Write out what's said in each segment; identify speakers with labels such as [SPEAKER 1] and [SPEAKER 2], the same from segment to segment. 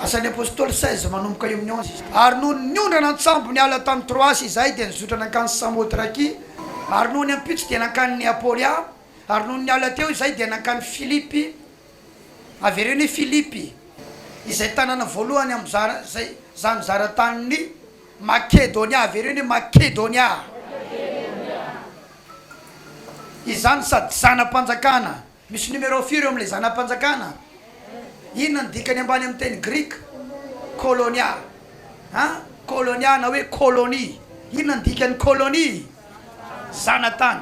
[SPEAKER 1] Asan'ny Apostoly seize manomboka eo amin'ny onze izy. Ary nony niondrana an-tsambo niala tany Troasy izahay dia nizotra nankany Samotrakia, ary nony ampitso dia nankany Neapolia, ary nony niala teo izahay dia nankany Filipy, avereno hoe Filipy, izay tanàna voalohany amin'ny zara, izay izany zara tanin'i Makedonia, avereno hoe Makedonia, izany sady zana-panjakana. Misy numéro firy eo amin'ilay zana-panjakana? Inona no dikany ambany amin'ny teny grika kôlônia? An, kôlônia na hoe kôlônia. Inona ny dikan'ny kôlônia? Zana-tany.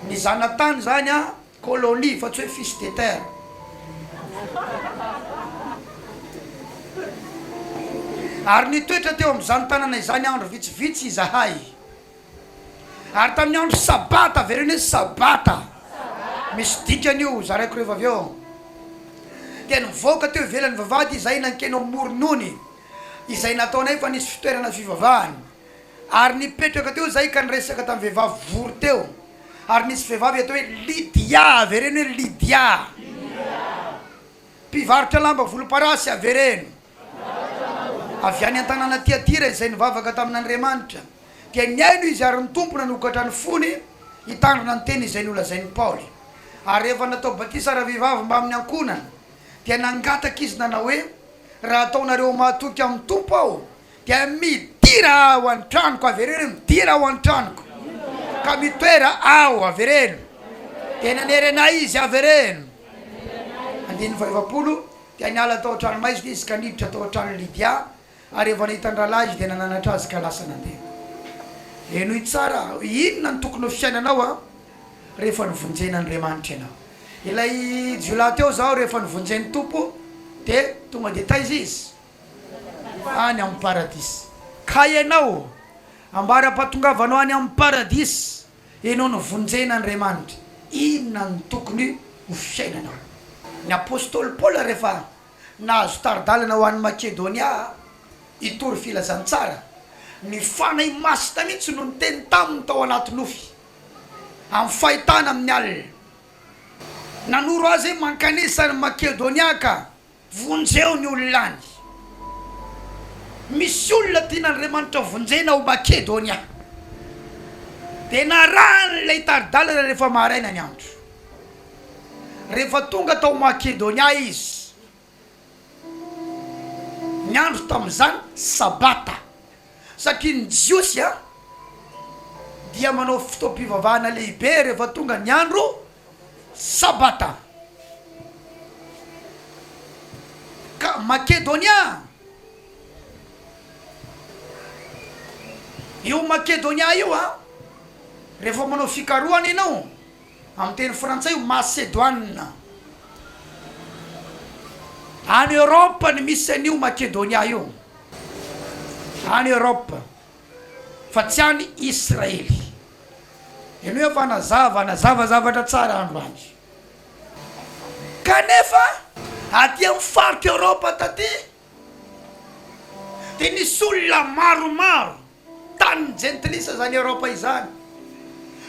[SPEAKER 1] Ny zana-tany izany an, kôlônia fa tsy hoe fils de terre. Ary nitoetra teo amin'izany tanana izany andro vitsivitsy izahay. Ary tamin'ny andro Sabata, avereno hoe Sabata, misy dikany io, zaraiko rehefa avy eo, dia nivoaka teo ivelan'ny vavahady izahay nankeny ao Moronony, izay nataonay fa nisy fitoerana fivavahana, ary nipetraka teo izahay ka niresaka tamin'ny vehivavy vory teo, ary nisy vehivavy atao hoe Lydia, avereno hoe Lydia, mpivarotra lamba volomparasy, avereno. Avy any an-tanàna Tiatira izay nivavaka tamin'Andriamanitra, dia nihaino izy ary ny Tompo nanokatra ny fony hitandrina ny teny izay nolazain'i Paoly. Ary rehefa natao batisa ravehivavy mbamin'ny ankohonany, dia nangataka izy nanao hoe, Raha ataonareo mahatoky amin'ny Tompo aho, dia midira ao an-tranoko, avereno, midira ao an-tranoko, ka mitoera ao, avereno. Dia nanery anay izy, avereno. Andininy fahaefapolo, Dia niala tao an-tranomaizina izy ka niditra tao an-tranon'i Lydia, ary rehefa nahita an-drahalahy izy dia nananatra azy ka lasa nandeha. Henoy tsara aho, inona no tokony ho fiainanao rehefa novonjen'Andriamanitra ianao? Ilay jiolahy teo izao rehefa novonjen'ny Tompo dia tonga dia taiza izy? Any amin'ny Paradisa. Ka ianao? Ambaram-pahatongavanao any amin'ny Paradisa. Ianao novonjen'Andriamanitra, inona no tokony ho fiainanao? Ny apostoly Paoly rehefa nahazo tari-dalana ho any Makedonia hitory filazantsara, ny Fanahy Masina mihitsy no niteny taminy tao anaty nofy, amin'ny fahitana amin'ny alina. Nanoro azy hoe mankanesa any Makedonia ka Vonjeo ny olona any. Misy olona tian'Andriamanitra vonjena ao Makedonia. Dia narahany ilay tari-dalana rehefa maraina ny andro. Rehefa tonga tao Makedonia izy, ny andro tamin'izany Sabata, satria ny Jiosy dia manao fotoam-pivavahana lehibe rehefa tonga ny andro. Sabata. Ka Makedonia. Io Makedonia io a, rehefa manao fikarohana ianao, amin'ny teny frantsay io Masedoine. Any Europe no misy an'io Makedonia io, any Europe. fa tsy an' i Israely. Ianao efa nazava nazava zavatra tsara androany. Kanefa aty amin' ny faritr' Eorôpa taty dia nisy olona maromaro, tany ny jentilisa izany Eorôpa izany,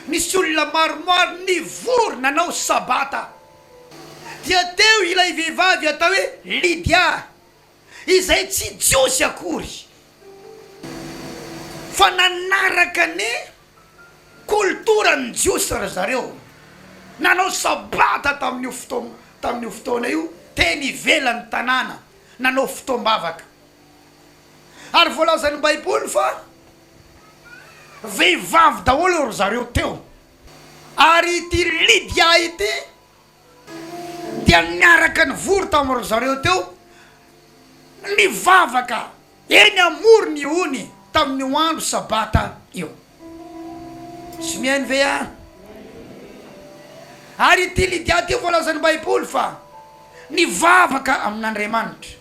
[SPEAKER 1] nisy olona maromaro nivory nanao sabata. Dia teo ilay vehivavy atao hoe Lydia, izay tsy Jiosy akory fa nanaraka ny kolotoran'ny Jiosy ry zareo, nanao sabata tamin'io fotoam, tamin'io fotoana io, teny ivelan'ny tanàna, nanao fotoam-bavaka. Ary voalazan'ny Baiboly fa vehivavy daholo ry zareo teo. Ary ity Lydia ity Dia niaraka nivory tao amin-dry zareo teo, nivavaka eny amoron' ny ony tamin' io andro sabata io. Tsy mihaino ve aho? Ary ity Lydia ity voalazan' ny Baiboly fa nivavaka amin' Andriamanitra.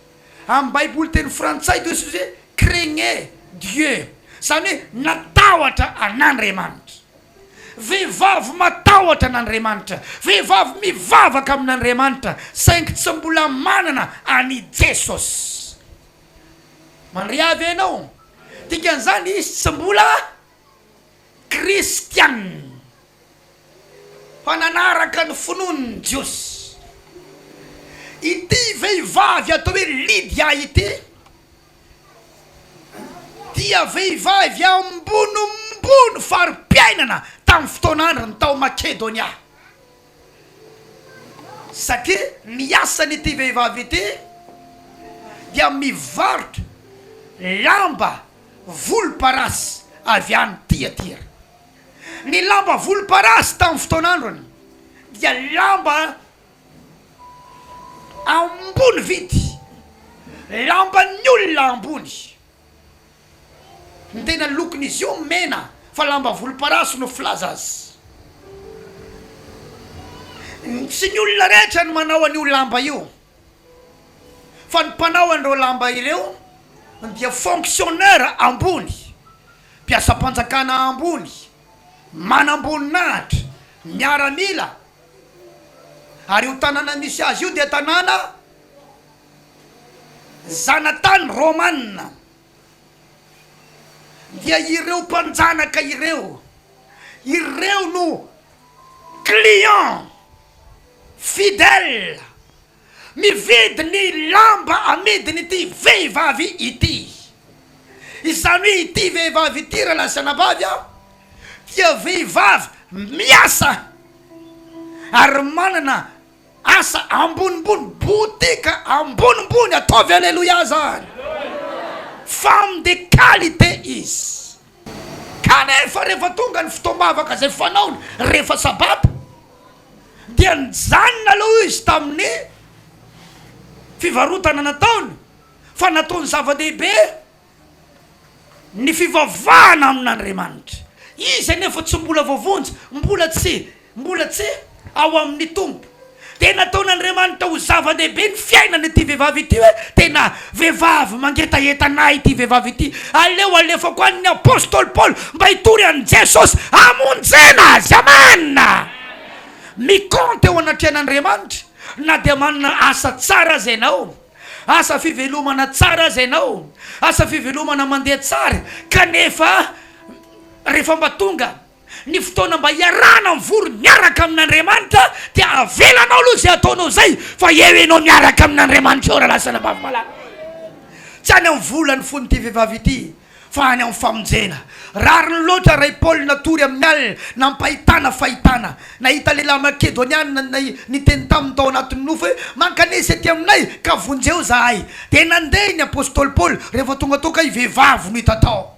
[SPEAKER 1] Amin' ny Baiboly teny frantsay dia hoe craignait Dieu, izany hoe natahotra an' Andriamanitra. Vehivavy matahotra an'Andriamanitra, vehivavy mivavaka amin'Andriamanitra saingy tsy mbola manana an'i Jesosy. Mandria avy ianao? Dikan'izany izy tsy mbola kristiana fa nanaraka ny finoan'ny Jiosy. Ity vehivavy atao hoe Lydia ity dia vehivavy ambonimbony fari-piainana tamin'ny fotoan'andrany tao Makedonia, satria ny asan'ity vehivavy ity dia mivarotra lamba volomparasy avy any Tiatira. Ny lamba volomparasy tamin'ny fotoan'andrany dia lamba. Ambony vidy lamban'ny olona ambony. Ny tena lokon'izy io mena fa lamba volomparasy no filaza azy. Tsy ny olona rehetra no manao an'io lamba io fa ny mpanao an'ireo lamba ireo dia fonctionnaire ambony, mpiasam-panjakana ambony, manamboninahitra, miaramila Ary io tanàna misy azy io dia tanàna zanatany romana. Dia ireo mpanjanaka ireo, ireo no clients fidèles. Mividy ny lamba amidiny ity vehivavy ity. Izany hoe ity vehivavy ity raha lazaina anabavy a, dia vehivavy miasa ary manana asa ambonimbony, boutique ambonimbony, ataovy aleloia zany! Femme de qualité izy. Kanefa rehefa tonga ny fotoam-bavaka izay fanaony rehefa Sabata, dia nijanona aloha izy tamin'ny fivarotana nataony, fa nataony zava-dehibe ny fivavahana amin'Andriamanitra. Izy anefa tsy mbola voavonjy, mbola tsy Mbola tsy ao amin'ny Tompo. Dia nataon'Andriamanitra ho zava-dehibe ny fiainan'ity vehivavy ity hoe, Tena vehivavy mangetaheta an'Ahy ity vehivavy ity. Aleo alefako any ny apostoly Paoly mba hitory an'i Jesosy hamonjena azy. Amen! Mikaonty eo anatrehan'Andriamanitra na dia manana asa tsara aza ianao, asa fivelomana tsara aza ianao, asa fivelomana mandeha tsara, kanefa rehefa mba tonga Ny fotoana mba hiarahana mivory miaraka amin'Andriamanitra dia avelanao aloha izay ataonao izay fa eo ianao miaraka amin'Andriamanitra eo ralasana bavy malala. Tsy any amin'ny vola ny fon'ity vehivavy ity fa any amin'ny famonjena. Rariny loatra Ray Paul natory amin'ny alina nampahitana fahitana. Nahita lehilahy Makedoniana nay niteny taminy tao anatin'ny nofo hoe mankanesa ety aminay ka vonjeo zahay. Dia nandeha ny apostoly Paoly rehefa tonga tao ka i vehivavy no hita tao.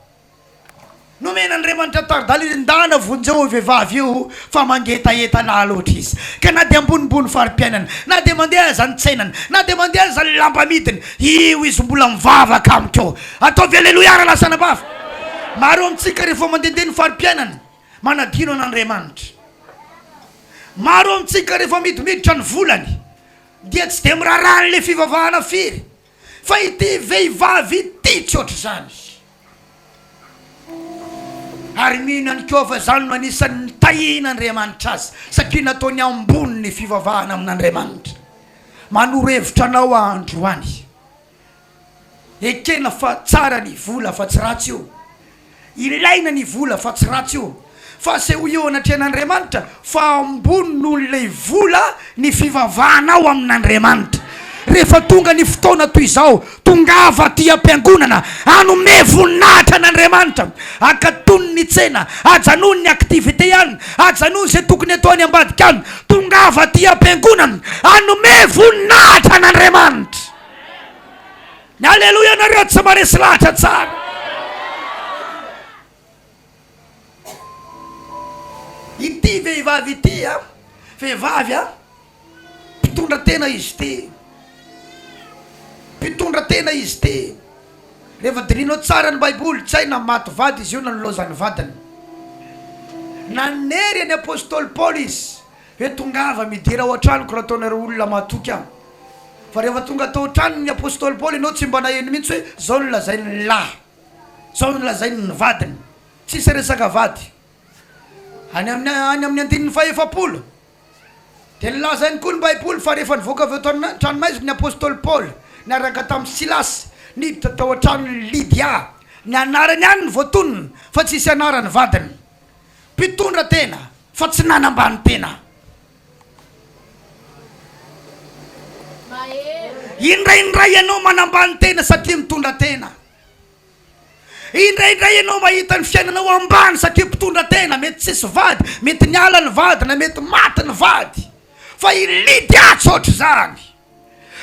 [SPEAKER 1] Nomena Andriamanitra tari-dalana endahana vonjeo io vehivavy io fa mangetaheta lahy loatra izy ka na dia ambonimbony fari-piainana, na dia mandeha aza ny tsenany, na dia mandeha aza ny lamba amidiny, io izy mbola mivavaka amiko eo. Ataovy Aleloia raha lasa anabavy. Maro amintsika rehefa mandehandeha ny fari-piainana, manadino an'Andriamanitra. Maro amintsika rehefa midimiditra ny volany dia tsy dia miraharaha an'ilay fivavahana firy. Fa ity vehivavy ity tsy ohatr'izany. Ary mino ihany koa fa izany no anisan'ny nitahian'Andriamanitra azy, satria nataony ambony ny fivavahana amin'Andriamanitra. Manoro hevitra anao aho androany. Ekena fa tsara ny vola fa tsy ratsy io. Ilaina ny vola fa tsy ratsy io fa asehoy eo anatrehan'Andriamanitra fa ambony noho ilay vola ny fivavahanao amin'Andriamanitra. Rehefa tonga ny fotoana toy izao, tongava aty am-piangonana, hanome voninahitra an'Andriamanitra. Akatony ny tsena, ajanony ny activités any, ajanony izay tokony atao any ambadika any. Tongava aty am-piangonana, hanome voninahitra an'Andriamanitra. Ny aleloia nareo tsy maresy lahatra tsara. Ity vehivavy ity a, vehivavy a, mpitondra tena izy ity, mpitondra tena izy ity. Rehefa dinihinao tsara ny Baiboly, tsy hay na maty vady izy io na nilaozan'ny vadiny. Nanery an'i Apostoly Paoly izy. Hoe tongava midera ao an-tranoko raha ataonareo olona mahatoky ahy. Fa rehefa tonga tao an-tranony ny apostoly Paoly ianao tsy mba naheno mihitsy hoe izao no lazainy ny lahy, izao no lazainy ny vadiny. Tsisy resaka vady. Any amin'ny any amin'ny andininy fahefapolo dia nilaza ihany koa ny Baiboly fa rehefa nivoaka avy ao an-tranomaizina ny apostoly Paoly niaraka tamin'i Silasy, niditra tao an-tranon'i Lydia. Ny anarany ihany no voatonona fa tsisy anaran'ny vadiny. Mpitondra tena fa tsy nanambany tena. Indraindray ianao manambany tena satria mitondra tena. Indraindray ianao mahita ny fiainanao ambany satria mpitondra tena. Mety tsisy vady, mety niala ny vady na mety maty ny vady. Fa i Lydia tsy ohatr'izany.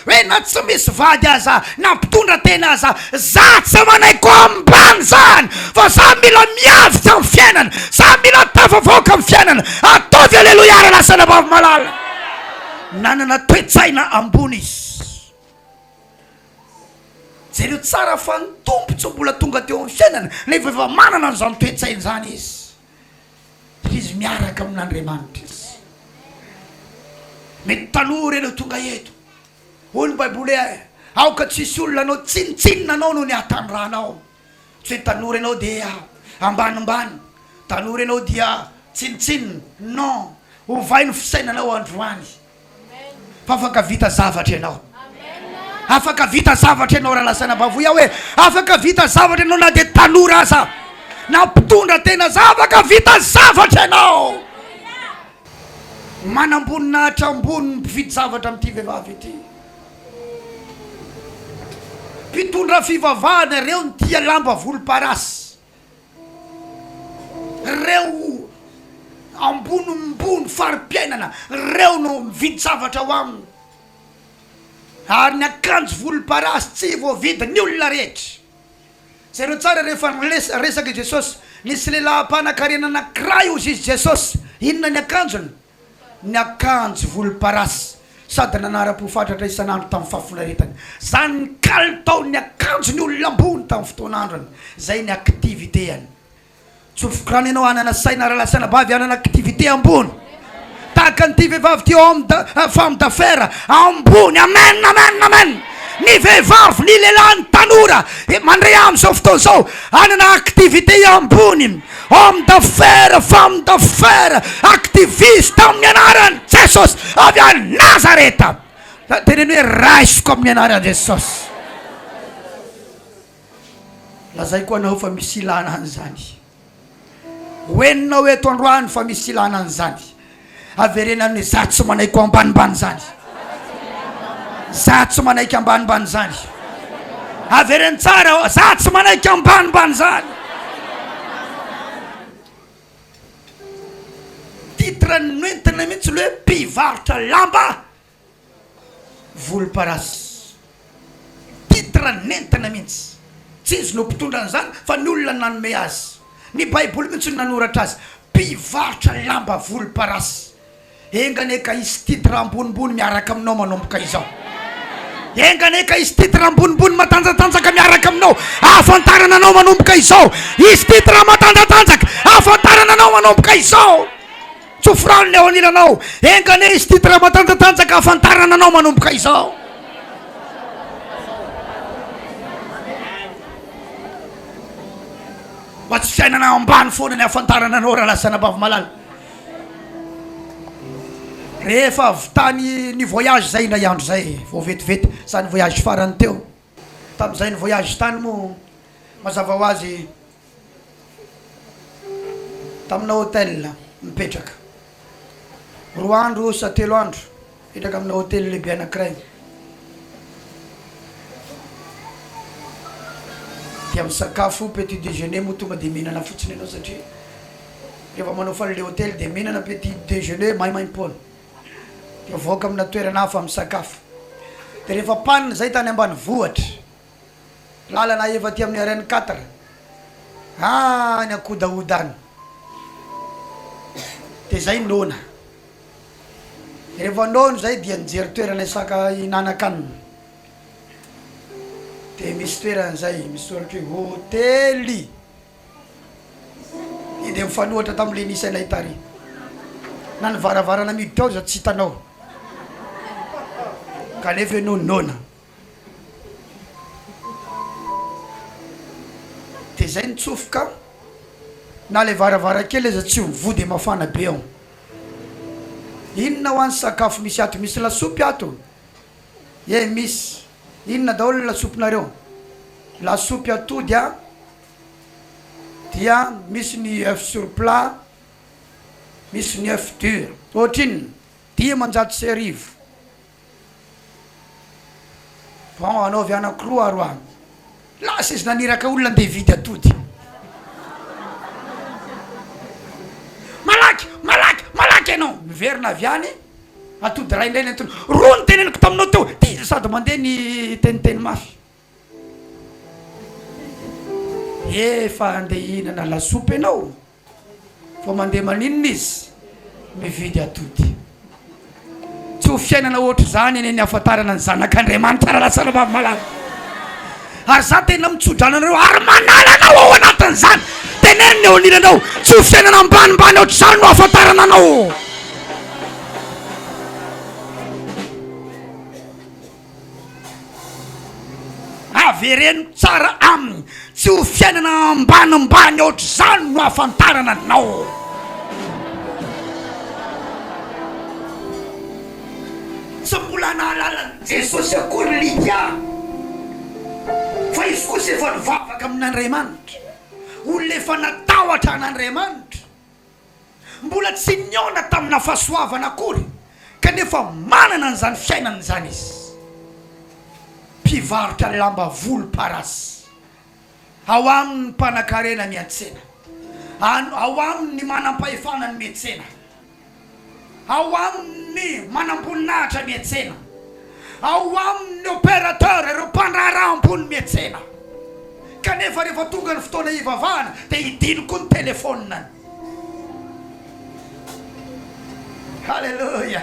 [SPEAKER 1] Hoe na tsy misy vady aza na mpitondra tena aza za tsy manaiky ho ambany zany fa za mila miavika am fiainana za mila tafavoaka am fiainana ataovy aleloia ary lasa anabavy malala nanana toetsaina ambony izy jereo tsara fa ny tompo tsy mbola tonga teo am fiainana nefa efa manana anzany toetsaina zany izy dia izy miaraka amin'Andriamanitra izy. Mety taloha ireny no tonga eto. Hoy ny Baiboly hoe, Aoka tsy hisy olona hanao tsinontsinona anao noho ny hatanirahanao. Tsy hoe tanora ianao dia ambanimbany, tanora ianao dia tsinontsinona. Non, ovay ny fisainanao androany. fa afaka vita zavatra ianao afaka vita zavatra ianao raha lazaina bavoy aho hoe afaka vita zavatra ianao na dia tanora aza na mpitondra tena za afaka vita zavatra ianao manam-boninahitra ambony ny mpividy zavatra amin'ity vehivavy ity mpitondra fivavahana ireo ny tia lamba volomparasy Reo ambonimbony fari-piainana reo no mividy zavatra ao aminy ary ny akanjo volomparasy tsy voavidy ny olona rehetra. Jereo tsara rehefa nilesa resaka i Jesosy, nisy lehilahy mpanan-karena anankiray hozy izy Jesosy, inona ny akanjony? niakanjo volomparasy sady nanara-po fatratra isan'andro tamin'ny fahafinaretany. Izany ny kalitaon'ny akanjon'ny olona ambony tamin'ny fotoan'androny, izay ny activité-any. Tsofoka any ianao hanana saina rahalahy sy anabavy hanana activité ambony, tahaka an'ity vehivavy ity homme d, femme d'affaires ambony. Amen! Amen! Amen! Ny vehivavy, ny lehilahy, ny tanora mandre amin'izao fotoana izao hanana activité ambony. Homme d'affaires, femme d'affaires, activiste amin'ny anaran'i Jesosy avy any Nazareta. Zany teneno hoe raisiko amin'ny anaran'i Jesosy. Lazaiko anao fa misy ilana an'izany. Ho henonao eto androany fa misy ilana an'izany. Avereno any hoe za tsy manaiky ho ambanimbany zany. Za tsy manaiky ambanimbany zany. Avereno tsara oh, za tsy manaiky ambanimbany zany. Titre nentina mihitsy le hoe mpivarotra lamba. Volomparasy. Titre nentina mihitsy. Tsy izy no mpitondra an'izany fa ny olona nanome azy. Ny baiboly mihitsy no nanoratra azy. Mpivarotra lamba volomparasy. Enga anie ka hisy titre ambonimbony miaraka aminao manomboka izao. Enga anie ka hisy titre ambonimbony matanjatanjaka miaraka aminao. Ahafantarana anao manomboka izao. Hisy titre matanjatanjaka ahafantarana anao manomboka izao. Tsofirano ny ao anilanao. Enga anie hisy titre matanjatanjaka hahafantarana anao manomboka izao. Mba tsy fiainana ambany foana ny hahafantarana anao Ralasa Anabavy-malala. Rehefa avy tany ny voyage izay indray andro izay vao vetivety izany voyage farany teo. Tamin'izay ny voyage tany moa mazava ho azy. Tamina hôtel mipetraka roa andro osa telo andro mipetraka amina hôtel lehibe anankiray dia misakafo petit déjeuner moa tonga dia mihinana fotsiny ianao satria rehefa manao fale hôtel dia mihinana petit déjeuner maimaimpoana dia mivoaka amina toerana hafa misakafo dia rehefa panina izay tany ambanivohitra Lalana ahefa aty amin'ny RN quatre any ankodahoda any de zay noana rehefa noana zay dia nijery toerana hisaka hinanakanina de misy toerana zay misoratra hoe hotely de mifanohatra tamle nisy anay tary na ny varavarana miditra ao aza tsy hitanao kanefa enao noana Dia zay nitsofoka na le varavarankely aza tsy mivoha dia mafana be ao. Inona hoan sakafo misy ato? Misy lasopy ato? Ye misy. Inona daholo ny lasopinareo? Lasopy atody a, dia misy ny oeuf sur plat, misy ny oeuf dur. Ohatrinona? Dimanjato sy arivo. Bon anaovy anankiroa aro an. Lasa izy naniraka olona andeha hividy atody. Malaky, malaky, malaky ianao. Miverina avy any, atody iray indray nentiny. Roa ny teneniko taminao teo, dia sady mandeha niteniteny mafy. Efa andeha hihinana lasopy ianao. Vao mandeha maninona izy mividy atody. Tsy ho fiainana ohatr'izany anie ny hahafantarana ny zanak'Andriamanitra raha lasa rahavavy malala. Ary izaho tena mitso-drano anareo ary manala anao ao anatin'izany. Teneno ny eo anilanao, tsy ho fiainana ambanimbany ohatr'izany no hahafantarana anao. Avereno tsara aminy, tsy ho fiainana ambanimbany ohatr'izany no ahafantarana anao. Tsy mbola nahalala an'i Jesosy akory Lydia, fa izy kosa efa nivavaka amin'Andriamanitra, olona efa natahotra an'Andriamanitra. Mbola tsy nihaona tamina fahasoavana akory kanefa manana an'izany fiainana izany izy. Mpivarotra lamba volomparasy. Ao aminy ny mpanankarena miantsena. Ao aminy ny manampahefana ny miantsena. ao amin'ny manamboninahitra miantsena, ao amin'ny opérateur, ireo mpandraharaha ambony miantsena, kanefa rehefa tonga ny fotoana hivavahana dia hidino koa ny telefoniny. Haleloia!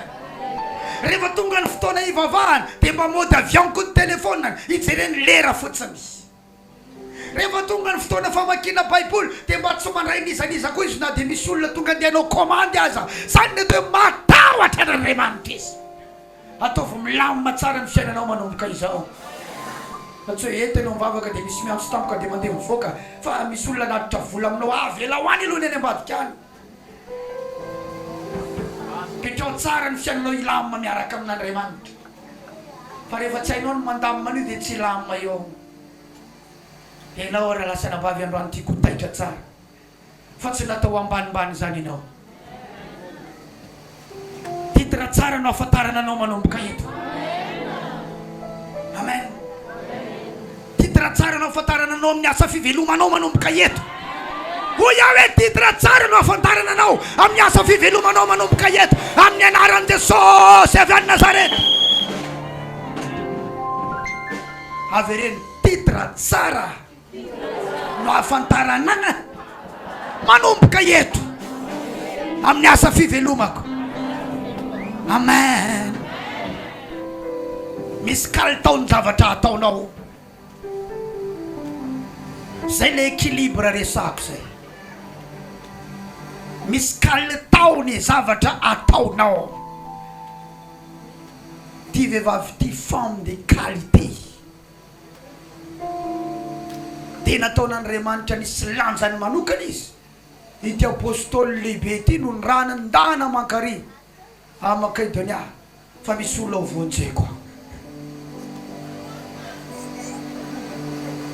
[SPEAKER 1] Rehefa tonga ny fotoana hivavahana dia mba mode avion koa ny telefoniny, hijereny lera fotsiny. Rehefa tonga ny fotoana famakiana baiboly dia mba tsy mandray n'iza n'iza koa izy na dia misy olona tonga andeha hanao komandy aza. Izany mety hoe matahotra an'Andriamanitra izy. Ataovy milamina tsara ny fiainanao manomboka izao. Fa tsy hoe eto ianao mivavaka dia misy miantso tampoka dia mandeha mivoaka fa misy olona hanatitra vola aminao, avelao any aloha ny any ambadika any. Petraho tsara ny fiainanao hilamina miaraka amin'Andriamanitra fa rehefa tsy hainao ny mandamina an'io dia tsy hilamina eo aho enao ary lasa anabavy androany tiako ho taitra tsara fa tsy natao ambanimbany izany enao. Titre tsara no ahafantarana anao manomboka eto. Amen. Titre tsara no ahafantarana anao amin'ny asa fivelomanao manomboka eto. Hoy aho hoe titre tsara no ahafantarana anao amin'ny asa fivelomanao manomboka eto amin'ny anaran'i Jesosy avy any Nazareta. Avereno titre tsara. no ahafantarana an manomboka eto amin'ny asa fivelomako amen misy kalitao ny zavatra ataonao zay le équilibre resahako zay misy kalitao ny zavatra ataonao ty vehivavy ty femme de qualité Dia nataon'Andriamanitra nisy lanjany manokana izy. Ity Apostoly lehibe ity no nirahana ndana aman-kary any Makedonia fa misy olona hovonjeko ao.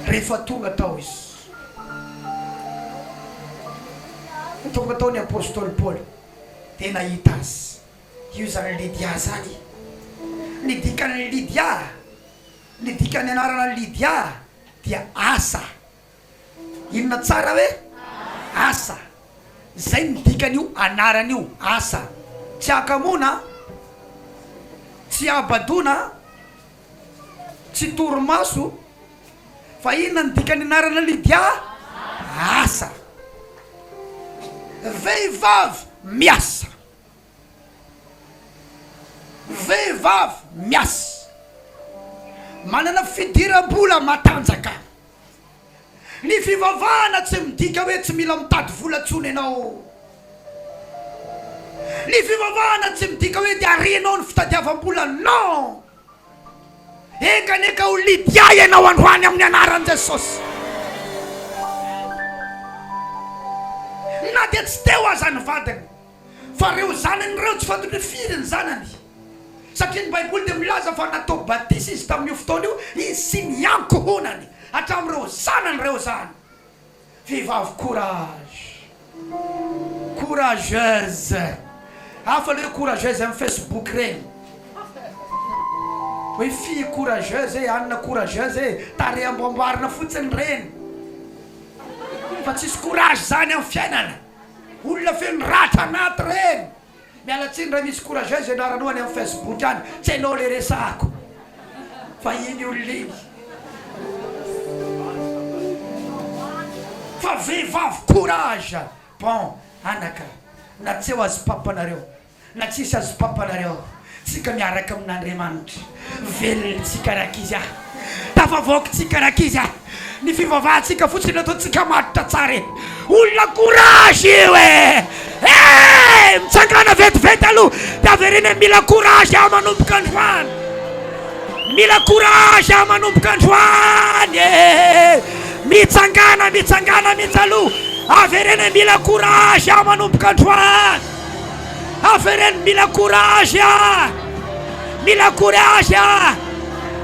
[SPEAKER 1] Rehefa tonga tao izy, tonga tao ny Apostoly Paoly dia nahita azy. Io izany Lydia izany. Ny dikan'ny Lydia Ny dikan'ny anarana Lydia dia asa. Inona tsara hoe asa? Izay no dikan'io anarana io, asa. Tsy hakamoana, tsy habadoana, tsy torimaso, fa inona ny dikan'ny anarana Lydia? Asa. Vehivavy miasa. Vehivavy miasa, manana fidiram-bola matanjaka. Ny fivavahana tsy midika hoe tsy mila mitady vola intsony ianao. Ny fivavahana tsy midika hoe dia renao ny fitadiavam-bola. Non! Enkaneka ho Lydia ianao androany amin'ny anaran'i Jesosy. Na dia tsy teo aza ny vadiny. Fa ireo zanany ireo tsy fantany hoe firy ny zanany, satria ny Baiboly dia milaza fa natao batisa izy tamin'io fotoana io, izy sy ny ankohonany, hatramin'ireo zanany ireo izany. Vehivavy courage, courageuse, hafa ilay hoe courageuse amin'ny Facebook ireny, hoe fille courageuse e, anona courageuse e, tarehy amboamboarina fotsiny ireny, fa tsisy courage izany amin'ny fiainana. Olona feno ratra anaty reny. Miala tsiny raha misy courageuse ianaranao any am Facebook any, tsy hainao le resahako fa iny olona iny fa vehivavy courage bon anaka na tsy eo azy papa nareo. Na tsisy azy papa nareo tsika miaraka amin Andriamanitra velona tsika rankizy a! Tafavoaka tsika rankizy a! Ny fivavahantsika fotsiny no ataontsika matotra tsara e! Olona courage io e! Hey! Mitsangana vetivety aloha de avereno hoe mila courage aho manomboka androany! Mila courage aho manomboka androany e! Mitsangana mitsangana mitsy aloha avereno hoe mila courage aho manomboka androany! Avereno mila courage a! Mila courage a!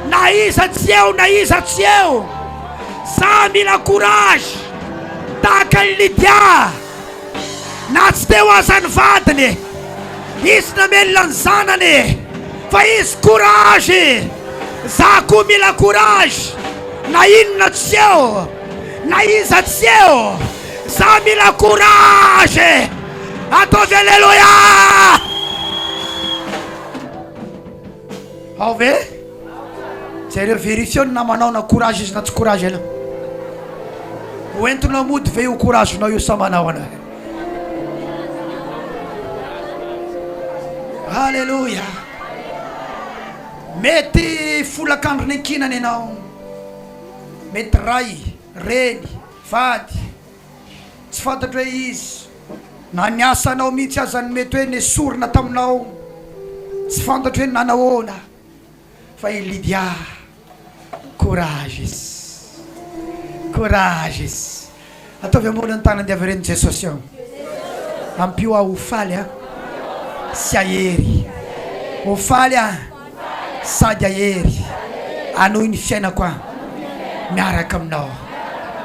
[SPEAKER 1] Na iza tsy eo na iza tsy eo! Za mila courage! Tahaka an'i Lydia! Na tsy teo aza ny vadiny, izy namelona ny zanany fa izy courage! Za koa mila courage! Na inona tsy eo! Na iza tsy eo! Za mila courage! Ataovy Alléluia Ao ve? Jereo vérifieo ny namanao na courage izy na tsy courage ianao. Ho entinao mody ve io courage nao io sa manao anao? Alléluia Mety folak'andro niankinana ianao, mety ray, reny, vady, Tsy fantatro hoe izy na ny asanao mihitsy aza no mety hoe nesorina taminao. Tsy fantatro hoe nanahoana fa i Lydia courages courages ataovy ambony ny tanany dia avy eo reny Jesosy ao ampio aho ho faly a sy ahery ho faly a. Sady hahery hanohy ny fiainako aho miaraka aminao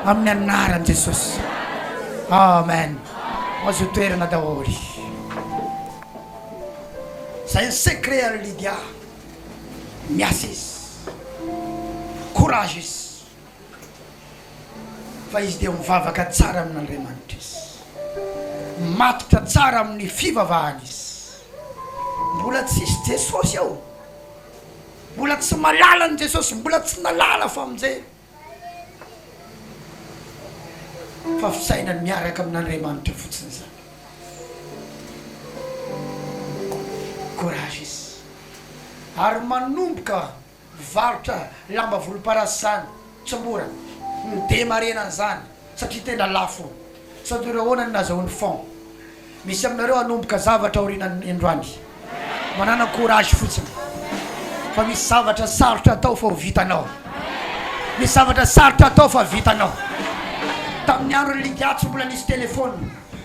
[SPEAKER 1] amin'ny anaran'i Jesosy. Amen. Mazoto toerana daholo. Zay ny secret an'i Lydia. Miasa izy. Courage izy. fa izy dia mivavaka tsara amin'Andriamanitra izy, matotra tsara amin'ny fivavahany izy. Mbola tsisy Jesosy aho, mbola tsy malala an'i Jesosy, mbola tsy nalala famonjena, fa fisainany miaraka amin'Andriamanitra fotsiny izany. Courage izy ary manomboka Mpivarotra lamba volomparasy zany tsy mora midema harena an'izany satria tena lafo sady ireo ahoana no nazahoany fonds misy aminareo hanomboka zavatra aorianan'ny androany manana courage fotsiny fa misy zavatra sarotra atao fa ho vitanao misy zavatra sarotra atao fa vitanao tamin'ny andron'i ligatso mbola nisy telephone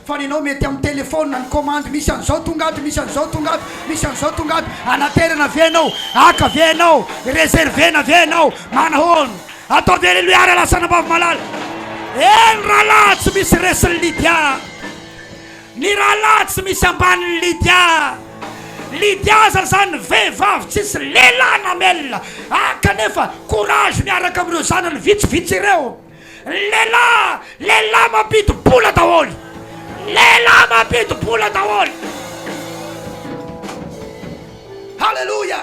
[SPEAKER 1] fa ny anao mety amin'ny telephone na ny commande misy an'izao tonga ato, misy an'izao tonga ato, misy an'izao tonga ato, anaterana ve ianao, haka ve ianao, reserver-na ve ianao, manahoana, atao ve leloa ary alasana ambavy-malala, eny rahalahy tsy misy resin'i Lydia, ny rahalahy tsy misy ambanin'i Lydia, Lydia aza izany vehivavy tsisy lehilahy namela, haka anefa courage miaraka amin'ireo zanany vitsivitsy ireo, Ny lehilahy, lehilahy mampidi-bola daholo, lehilahy mampidi-bola daholo. Haleloia!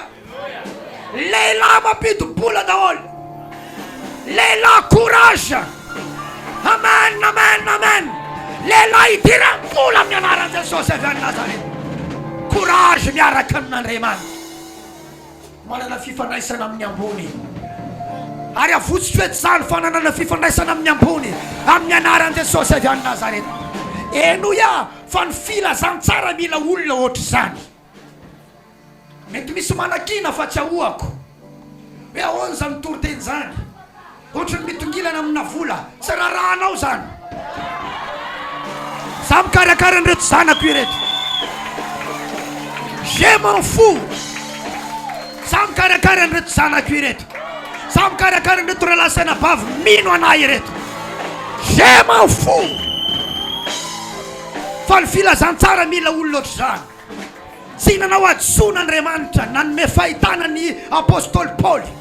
[SPEAKER 1] Lehilahy mampidi-bola daholo, lehilahy courage. Amen, amen, amen. Lehilahy idiram-bola amin'ny anaran'i Jesosy avy any Nazareth. Courage miaraka amin'Andriamanitra. Manana fifandraisana amin'ny ambony. Ary avotsotra eto izany fananana fifandraisana amin'ny ambony amin'ny anaran'i Jesosy avy any Nazareta. Henoy aho fa ny filazantsara mila olona ohatr'izany. Mety misy manakiana fa tsy ahoako hoe ahoana izany toriteny izany. Ohatry ny mitongilana amina vola tsy raharahanao zany. Za mikarakara an'ireto zanako ireto. Je m'en fous. Za mikarakara an'ireto zanako ireto. Za mikarakara an'ireto rahalahy sy anabavy mino anah ireto. Je m'en fous. Fa ny filazantsara mila olona ohatr'izany. Tsy nanao hadisoana Andriamanitra nanome fahitana ny apostoly Paoly.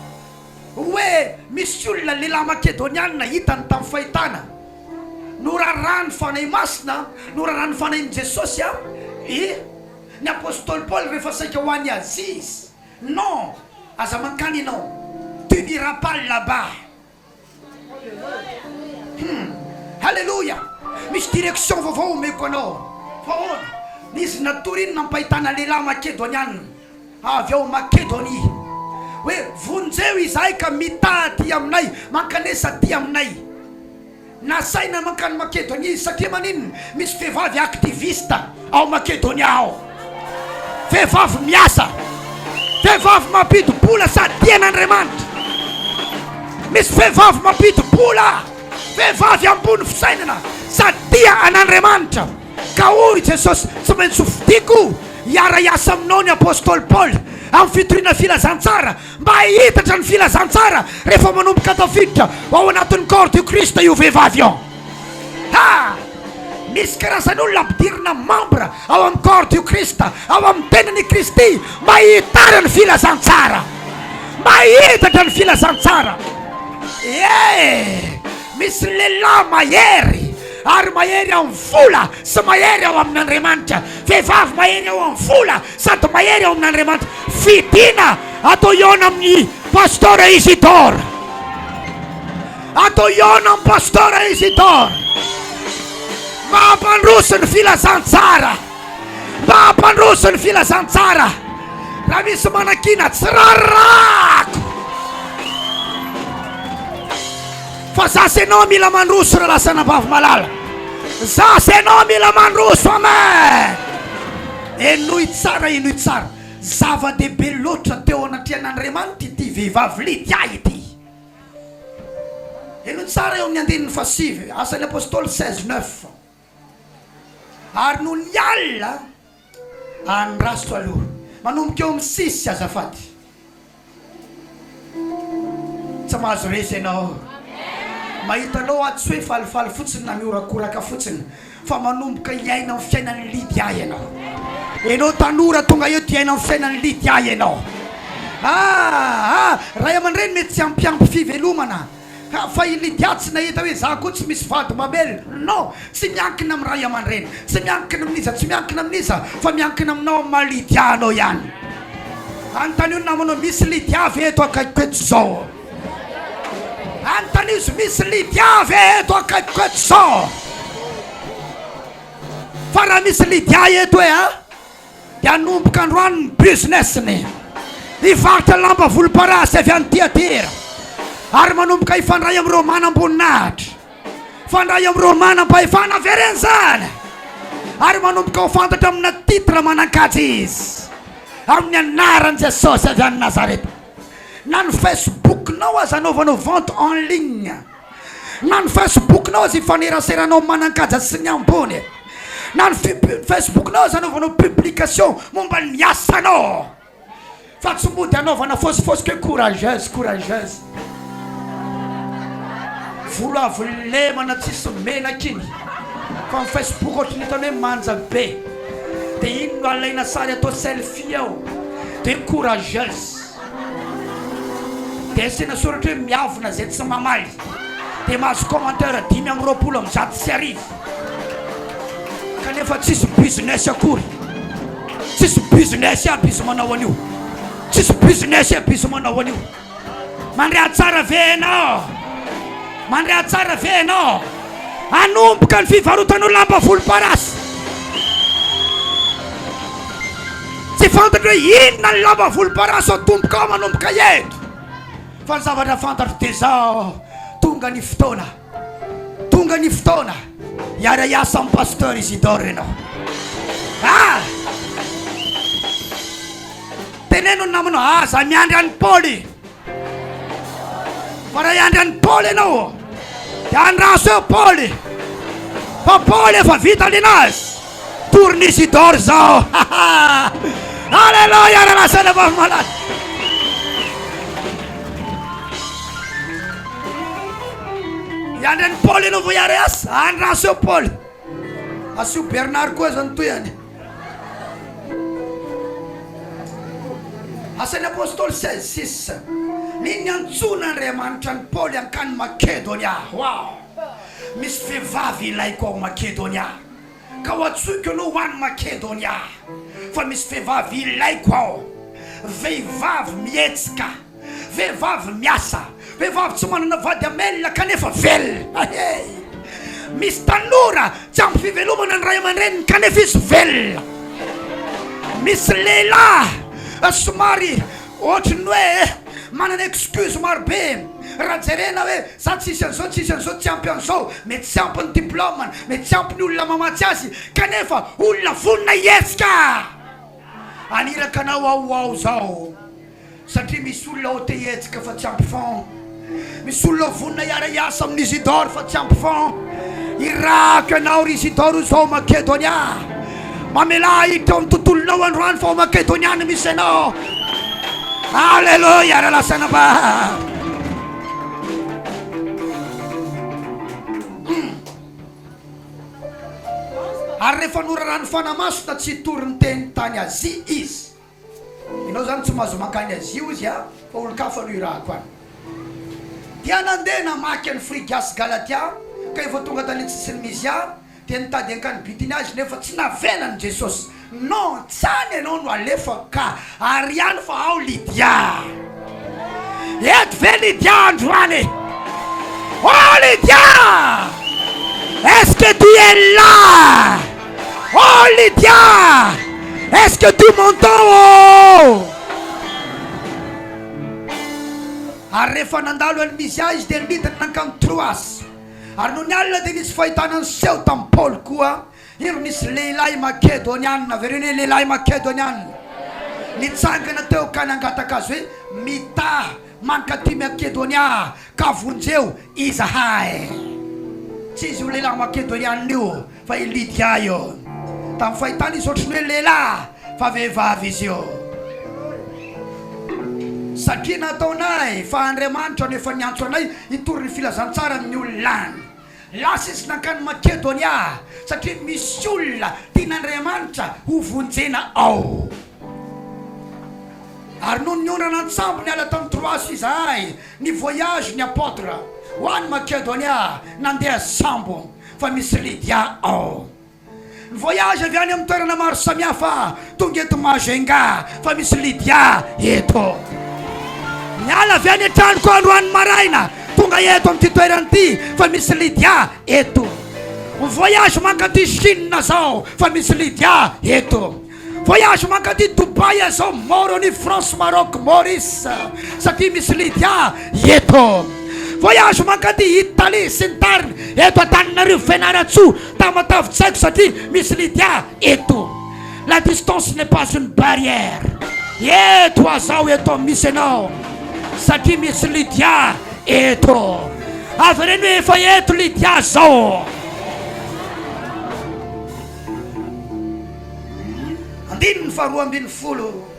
[SPEAKER 1] hoe misy olona lehilahy Makedoniana hitany tamin'ny fahitana, noraràn'ny Fanahy Masina, noraràn'ny Fanahin'i Jesosy an i, ny Apostoly Paoly rehefa saika ho any Azia izy, Non, aza mankany ianao, tu n'iras pas là-bas. Hum! Haleloia! Misy direction vaovao omeko anao. Fa ahoana? Izy natory iny nampahitana lehilahy Makedoniana. avy ao Makedonia, hoe, Vonjeo izahay ka mitaha aty aminay, mankanesa aty aminay. Nasaina mankany Makedonia izy, satria maninona? Misy vehivavy activiste ao Makedonia ao. Vehivavy miasa. Vehivavy mampidi-bola sady tia an'Andriamanitra. Misy vehivavy mampidi-bola, vehivavy ambony fisainana sady tia an'Andriamanitra. Ka hoy Jesosy, Tsy maintsy hofidiko hiara-hiasa aminao ny apostoly Paoly amin'ny fitoriana filazantsara, mba hihitatra ny filazantsara rehefa manomboka tafiditra ao anatin'ny corps du Christ io vehivavy io. Ha! Misy karazana olona ampidirina membre ao amin'ny corps du Christ, ao amin'ny tenany i Kristy, mba hihitana ny filazantsara, mba hihitatra ny filazantsara. Ee, misy lehilahy mahery, Ary mahery ao amin'ny vola sy mahery ao amin'Andriamanitra. Vehivavy mahery ao amin'ny vola sady mahery ao amin'Andriamanitra. Fidiana atao hihaona amin'ny Pasteur Isidore. Atao hihaona amin'ny Pasteur Isidore. Mampandroso ny filazantsara. Mampandroso ny filazantsara. Raha misy manakiana, tsy rarirahako. Fa za sy enao mila mandroso ra lasa anabavy malala Za sy enao mila mandroso amen Henoy tsara henoy tsara Zava dehibe loatra teo anatrehan Andriamanitra ity vehivavy Lydia ity Henoy tsara eo amin'ny andininy fahasivy Asan'ny Apostoly seize neuf Ary noho ny alina any raso aloha manomboka eo amin'ny six azafady Tsy mahazo resy ianao mahita anao aho tsy hoe falifaly fotsiny na mihorakoraka fotsiny fa manomboka hiaina ny fiainan'i Lydia ianao Ianao tanora tonga eto hiaina ny fiainan'i Lydia ianao Ah ah Ray aman-dreny mety tsy hampiampy fivelomana Ka fa i Lydia tsy nahita hoe za koa tsy misy vady mamelona. Non! Tsy miankina amin'ny ray aman-dreny, tsy miankina amin'iza, tsy miankina amin'iza fa miankina aminao, amin'ny maha Lydia anao ihany. Anontanio ny namanao, misy Lydia ve eto akaikiko eto izao? Anontanio izy, misy Lydia ve eto akaikiko eto izao? Fa raha misy Lydia eto hoe a! dia hanomboka androany ny business-ny hivarotra lamba volomparasy avy any Tiatira ary manomboka hifandray amin'ireo manam-boninahitra, hifandray amin'ireo manam-pahefana avereny izany ary manomboka ho fantatra amina titre manan-kaja izy amin'ny anaran'i Jesosy avy any Nazareta. Na ny Facebook-nao aza anaovanao vente en ligne. Na ny Facebook-nao aza ifaneraseranao manan-kaja sy ny ambony e! Na ny fb-ny Facebook-nao aza anaovanao publication momba ny asanao fa tsy mody anaovana fôsifôsy koe courageuse courageuse volo avo lemana tsisy menaka iny fa ny Facebook ohatry ny hitany hoe manja be de iny no alaina sary atao selfie ao de courageuse. Dia asiana soratra hoe miavona izay tsy mamaly dia mahazo commentaire dimy amby roapolo amby zato sy arivo kanefa tsisy business akory tsisy business aby izy manao an'io tsisy business aby izy manao an'io mandre atsara ve enao mandre atsara ve enao hanomboka ny fivarotan'ireo lamba volomparasy. Tsy fantatro hoe inona ny lamba volomparasy ao tompoko ao manomboka eto. Fa ny zavatra fantatro dia izao, tonga ny fotoana, tonga ny fotoana hiara-hiasa amin'ny Pasteur Isidore ianao. Ah! Teneno ny namanao, aza miandry an'i Paoly. Fa raha hiandry an'i Paoly ianao dia andraso eo Paoly fa Paoly efa vita linazy tory ny Isidore zao Alléluia raha lasaina vavy malala hiandry an'i Paoly ianao vao hiara-hiasa andraso eo Paoly asio Bernard koa zany tohiny Asan'ny Apostoly seize, six Nini niantsoan'Andriamanitra an'i Paoly hankany Makedonia Ho'aho misy vehivavy ilaiko ao Makedonia, ka ho antsoiko anao ho any Makedonia, fa misy vehivavy ilaiko ao, vehivavy mihetsika. Vehivavy miasa, vehivavy tsy manana vady hamelona kanefa velona. Hey! Misy tanora tsy ampy fivelomana ny ray aman-dreniny kanefa izy velona. Misy lehilahy somary ohatry ny hoe manana excuse maro be raha jerena hoe za tsisy an'izao, tsisy an'izao, tsy ampy an'izao, mety tsy ampy ny diplaomany, mety tsy ampy ny olona mamatsy azy, kanefa olona vonona hihetsika. Haniraka anao aho ho ao izao. Satria misy olona ao te hihetsika fa tsy ampy fond. Misy olona vonona hiara hiasa amin Isidore fa tsy ampy fond. Irahako ianao ry Isidore ho zao Makedonia. Mamelà ahitra eo amin'ny tontolonao androany fa ao Makedonia no misy anao. Alléluia, ralasana ba. Ary rehefa noraràn'ny Fanahy Masina tsy hitory ny teniny tany Azia izy. Enao zany tsy mahazo mankany Azia ozy a fa olon-kafa no irahako any. Dia nandeha namaky an'i Frigia sy Galatia, kay vao tonga tany an-tsisin'i Mysia dia nitady hankany Bitynia azy nefa tsy navelan'i Jesosy. Non, tsy any enao no alefako ka, ary any fa ao Lydia. Eto ve Lydia androany e? Oh Lydia! Est-ce que tu es là? Oh Lydia! Est-ce que tu m'entends oh? Ary rehefa nandalo an'i Misia izy dia nidina nankany Troasy. Ary nony alina dia nisy fahitana niseho tamin'i Paoly koa. Ireo nisy lehilahy Makedoniana, avereno hoe, lehilahy Makedoniana, nitsangana teo ka nangataka azy hoe, Mitaha mankaty Makedonia aho, ka vonjeo izahay. Tsy izy io lehilahy Makedoniana io, fa i Lydia io. Tamin'ny fahitany izy ohatry ny hoe lehilahy, fa vehivavy izy io. Satria nataonay, fa Andriamanitra no efa niantso anay hitory ny filazantsara amin'ny olona any. Lasa izy nankany Makedonia satria misy olona tian'Andriamanitra hovonjena ao. Ary nony niondrana an-tsambo niala tany Troasy izahay, ny voyage ny Apotre ho any Makedonia nandeha sambo fa misy Lydia ao. Ny voyage avy any amin'ny toerana maro samihafa tonga eto Majunga fa misy Lydia eto. Niala avy any an-tranoko aho androany maraina tonga eto amin'ity toerana ity fa misy Lydia eto. Mivoyage mankaty Chine zao fa misy Lydia eto. Voyage mankaty Dubaï aho zao Moroni France Maroc Maurice satria misy Lydia eto Voyage mankaty Italie sy ny tariny eto Antananarivo Fianarantsoa Tamatave tsy haiko satria misy Lydia eto La distance n'est pas une barrière Eto aho zao eto misy enao satria misy Lydia eto Avereno hoe efa eto Lydia zao Andininy faharoa ambin'ny folo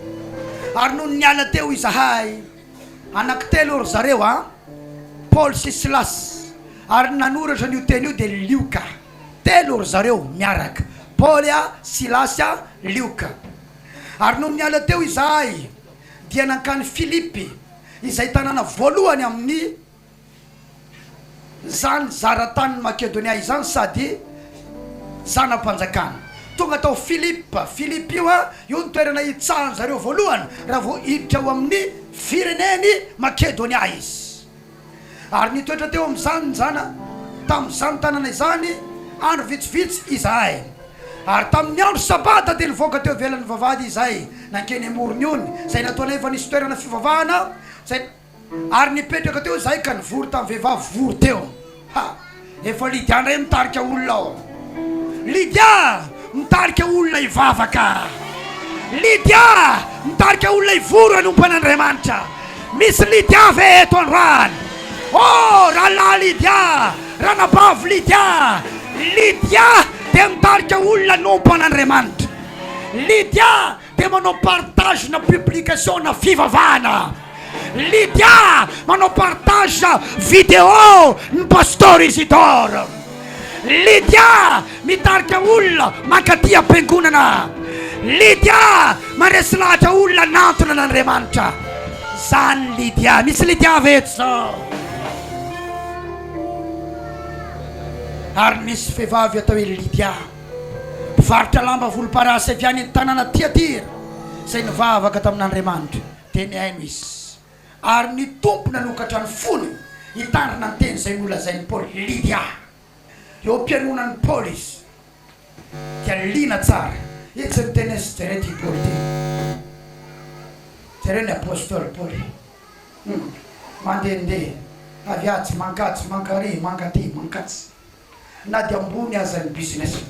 [SPEAKER 1] Ary nony niala teo izahay, anaky telo ry zareo, a Paoly sy Silas, ary ny nanoratra an'io teny io dia Lioka, telo ry zareo miaraka, Paoly, a Silasy, a Lioka. Ary nony niala teo izahay, dia nankany Filipy, izay tanàna voalohany amin'ny. Izany zara-tanin'i Makedonia izany sady zana-panjakana. Tonga tao Filipa, Philippi, io an, io ny toerana hitsahan'ny zareo voalohany raha vao hiditra ao amin'ny firenen'i Makedonia izy. Ary nitoetra teo amin'izany zana, tamin'izany tanàna izany, andro vitsivitsy izahay. Ary tamin'ny andro Sabata dia nivoaka teo ivelan'ny vavahady izahay nankeny amorony ony, izay nataonay fa nisy toerana fivavahana izay. Ary nipetraka teo izahay ka nivory tamin'ny vehivavy vory teo. Ha! Efa Lydia indray mitarika olona ao. Lydia mitarika olona hivavaka. Lydia mitarika olona hivory hanompo an'Andriamanitra. Misy Lydia ve eto androany? Oh! Rahalahy Lydia! Ranabavy Lydia! Lydia dia mitarika olona hanompo an'Andriamanitra. Lydia Dia manao partage na publication na fivavahana. Lydia manao partage video ny Pasteur Isidore. Lydia mitarika olona mankaty am-piangonana. Lydia maresy lahatra olona anantona an' Andriamanitra. Zany Lydia. Misy Lydia ve eto zao? Ary nisy vehivavy atao hoe Lydia. Mpivarotra lamba volomparasy avy any an-tanàna Tiatira, izay nivavaka tamin'Andriamanitra, dia nihaino izy, ary ny Tompo nanokatra ny fony hitandrina ny teny izay nolazain'i Paoly. Lidia. Eo am-pihainoanan'i Paoly izy, dia liana tsara. Etsy ny teny izy, jereo ity Paoly ity. Jereo ny apostoly Paoly. Hum. Mandehandeha, avy atsy, mankatsy, mankaria, mankaty, mankatsy. na dia ambony aza ny business-ny,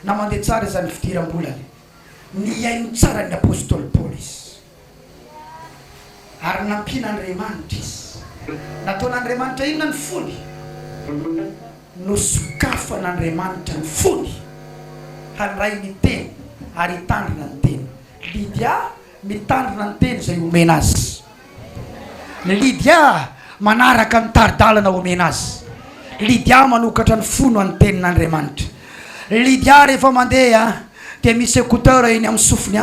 [SPEAKER 1] na mandeha tsara aza ny fidiram-bolany, nihaino tsara ny apostoly Paoly izy, ary nampian'Andriamanitra izy. Nataon'Andriamanitra inona ny fony? Nosokafan'Andriamanitra ny fony handray ny Teny ary hitandrina ny Teny. Lydia. Mitandrina ny teny izay omena azy. Ny Lydia manaraka ny tari-dalana omena azy. Lydia manokatra ny fony ho an'ny tenin'Andriamanitra. Ny Lydia rehefa mandeha dia misy écouteur eny amin'ny sofiny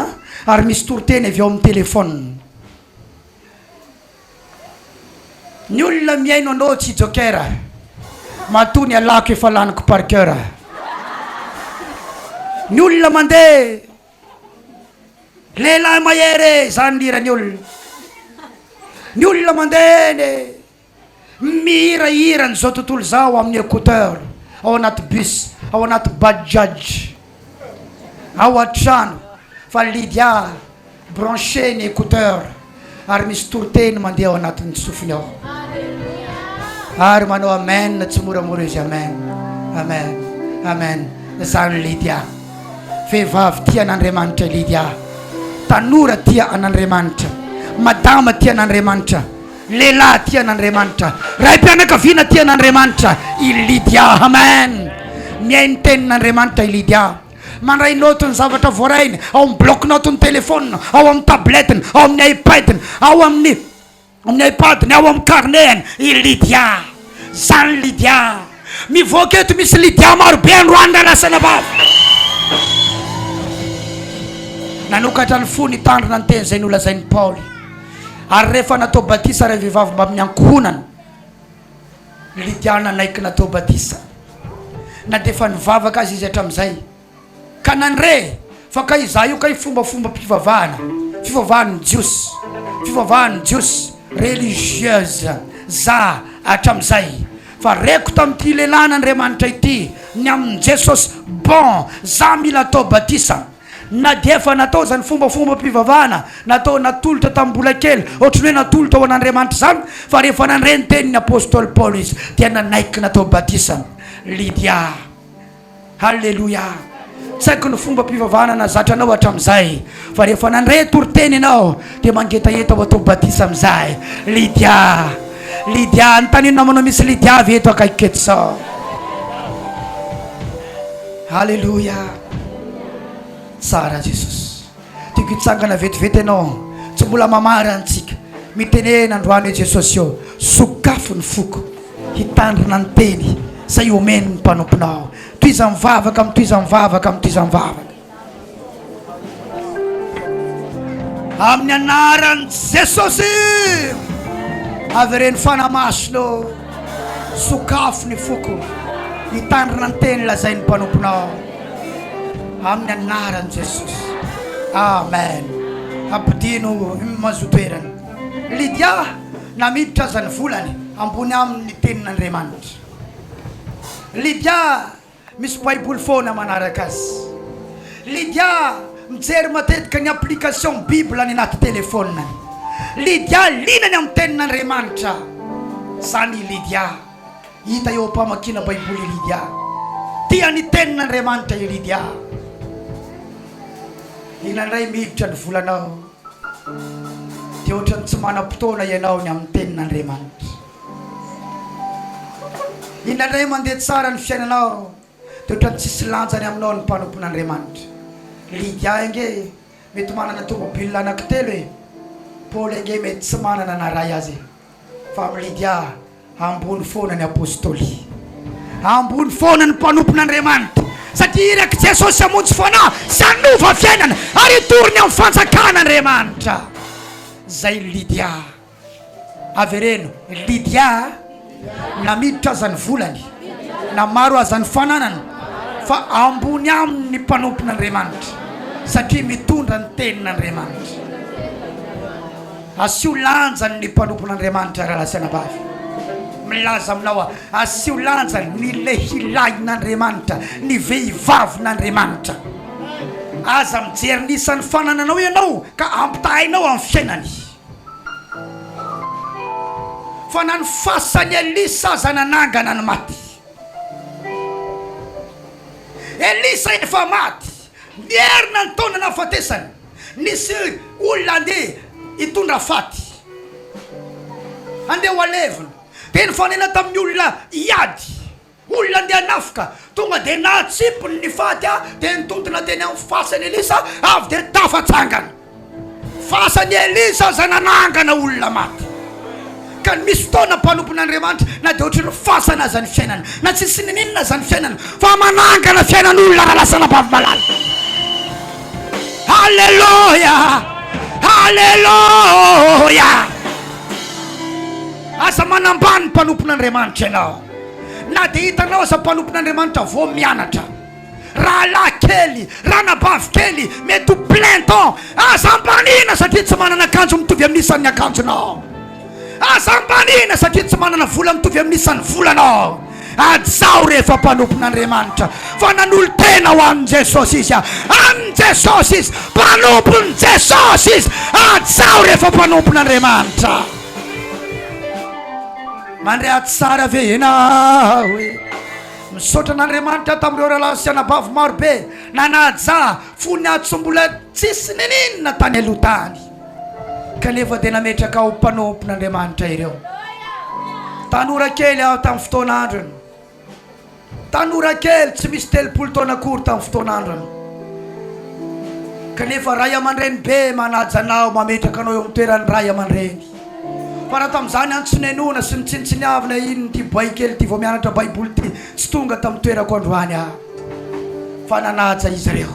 [SPEAKER 1] ary misy toriteny avy ao amin'ny téléphone. Ny olona mihaino anao tsy joker, matoa ny alako efa laniko par cœur. Ny olona mandeha. Lehilahy mahery e izany mihira ny olona. Ny olona mandeha eny e. Mihira hiran'izao tontolo izao amin'ny écouteur, ao anaty bus, ao anaty bajaj, ao an-trano fa Lydia brancher ny écouteur. Ary misy toriteny mandeha ao anatin'ny sofiny ao. Ary manao amen tsimoramora izy amen. Amen. Amen. Zany Lydia. Vehivavy tia an'Andriamanitra Lydia. Tanora tia an'Andriamanitra. Madama tia an'Andriamanitra. Lehilahy tia an'Andriamanitra. Raim-pianakaviana tia an'Andriamanitra i Lydia. Amen. Mihaino tenin'Andriamanitra i Lydia. Mandray naoty ny zavatra voarahiny ao amin'ny bloc-naotin'ny telefaonina, ao amin'ny tabletiny, ao amin'ny iPad-ny, ao amin'ny amin'ny iPad-ny, ao amin'ny carnet-ny i Lydia. Zany Lydia. Mivoaka eto misy Lydia maro be androany raha lasa anabavy. Nanokatra ny fony hitandrina ny teny izay nolazain'i Paoly. Ary rehefa natao batisa ireo vehivavy mbamin'ny ankohonany, Lydia nanaiky natao batisa, na dia efa nivavaka aza izy hatramin'izay, ka nandre fa kay izaho io kay fombafombam-pivavahana, fivavahan'ny Jiosy, fivavahan'ny Jiosy, religieuse, za hatramin'izay, fa reko tamin'ity lehilahin'Andriamanitra ity, ny amin'i Jesosy, bon, za mila atao batisa. Na dia efa natao izany fombafombam-pivavahana natao natolotra tamin'ny mbola kely, ohatry ny hoe natolotra ho an'Andriamanitra izany, fa rehefa nandre ny tenin'ny apostoly Paoly izy, dia nanaiky natao batisa. Lydia. Haleloia! Tsy haiko ny fombam-pivavahana nazatra anao hatramin'izay, fa rehefa nandre toriteny ianao, dia mangetaheta ho atao batisa amin'izay. Lydia. Lydia. Anontanian'ny namanao, Misy Lydia ve eto akaikiko eto sao? Haleloia! Tsara Jesosy. Tiako hitsangana vetivety Ianao. Tsy mbola mamarana antsika. Mitenena androany hoe Jesosy ô, sokafo ny foko. Hitandrina ny teny izay homeny ny mpanomponao. Tohiza mivavaka amin'ny tohiza mivavaka amin'ny tohiza mivavaka. Amin'ny anaran'i Jesosy. Avereno fanahy masina ô. Sokafy ny foko hitandrina ny teny lazain'ny mpanomponao amin'ny anaran'i Jesosy. Amen. Ampodiano ny mazotoerany. Lydia, na miditra aza ny volany, ambony aminy ny tenin'Andriamanitra. Lydia. Misy baiboly foana manaraka azy. Lydia mijery matetika ny application bible any anaty telefoniny. Lydia liana ny amin'ny tenin'Andriamanitra. Izany i Lydia. Hita eo am-pamakiana baiboly i Lydia. Tia ny tenin'Andriamanitra i Lydia. Liana indray miditra ny volanao. Dia ohatran'ny tsy manam-potoana ianao ny amin'ny tenin'Andriamanitra. Indraindray mandeha tsara ny fiainanao de otrany tsisy lanjany aminao ny mpanompon'Andriamanitra. Lydia ange mety manana tomobile anaky telo e! Paoly ange mety tsy manana na ray aza e! Fa amin'i Lydia ambony foana ny apostoly. Ambony foana ny mpanompon'Andriamanitra satria irak'i Jesosy hamonjy fanahy sy hanova fiainana ary hitory ny amin'ny fanjakan'Andriamanitra. Zay Lydia. Avereno ry Lydia a! Na miditra aza ny volany, na maro aza ny fananany, fa ambony aminy ny mpanompon'Andriamanitra, satria mitondra ny tenin'Andriamanitra. Asio lanjany ny mpanompon'Andriamanitra rahalahy sy anabavy. Milaza aminao aho, asio lanjany ny lehilahin'Andriamanitra, ny vehivavin'Andriamanitra. Aza mijery ny isan'ny fanananao ianao ka ampitahainao amin'ny fiainany. Fa na ny fasan'i Elisa aza nanangana ny maty. Elisa efa maty, nierina ny taona nahafatesany. Nisy olona handeha hitondra faty, handeha ho halevina, dia nifanena tamin'ny olona hiady. Olona ndeha nafika, tonga dia nahatsimpony ny faty aho dia nitontona teny amin'ny fasan'i Elisa avy dia tafatsangana. Fasan'i Elisa izay nanangana olona maty. Ka ny misy fotoana mpanompon'Andriamanitra na dia ohatry ny fasana aza ny fiainana, na tsisy ninininina aza ny fiainana fa manangana fiainan'olona raha lasa anabavy malala. Aleloia! Aleloia! Aza manambany mpanompon'Andriamanitra ianao. Na dia hitanao aza mpanompon'Andriamanitra vao mianatra, rahalahy kely, ranabavy kely, mety ho plein temps, aza ambanina satria tsy manana akanjo mitovy amin'ny isan'ny akanjonao. Aza ambanina satria tsy manana vola mitovy amin'ny isan'ny volanao. Hajao rehefa mpanompon'Andriamanitra, fa nanolo-tena ho an'i Jesosy izy, an'i Jesosy izy, mpanompon'i Jesosy izy. Hajao rehefa mpanompon'Andriamanitra. Mandre ato tsara ve enao e Misaotra an'Andriamanitra tamin'ireo rahalahy sy anabavy maro be nanaja fo ny ato mbola tsisy nininona tany aloha tany kanefa dia nametraka ho mpanompon'Andriamanitra ireo tanora kely aho tamin'ny fotoana androny Tanora kely tsy misy telopolo taona akory tamin'ny fotoana andrana, kanefa ray aman-dreny be manaja anao, mametraka anao eo amin'ny toeran'ny ray aman-dreny. Fa raha tamin'izany antso nenoina sy notsinontsiniavina iny ity boay kely ity vao mianatra Baiboly ity, tsy tonga tamin'ny toerako androany aho, fa nanaja izy ireo.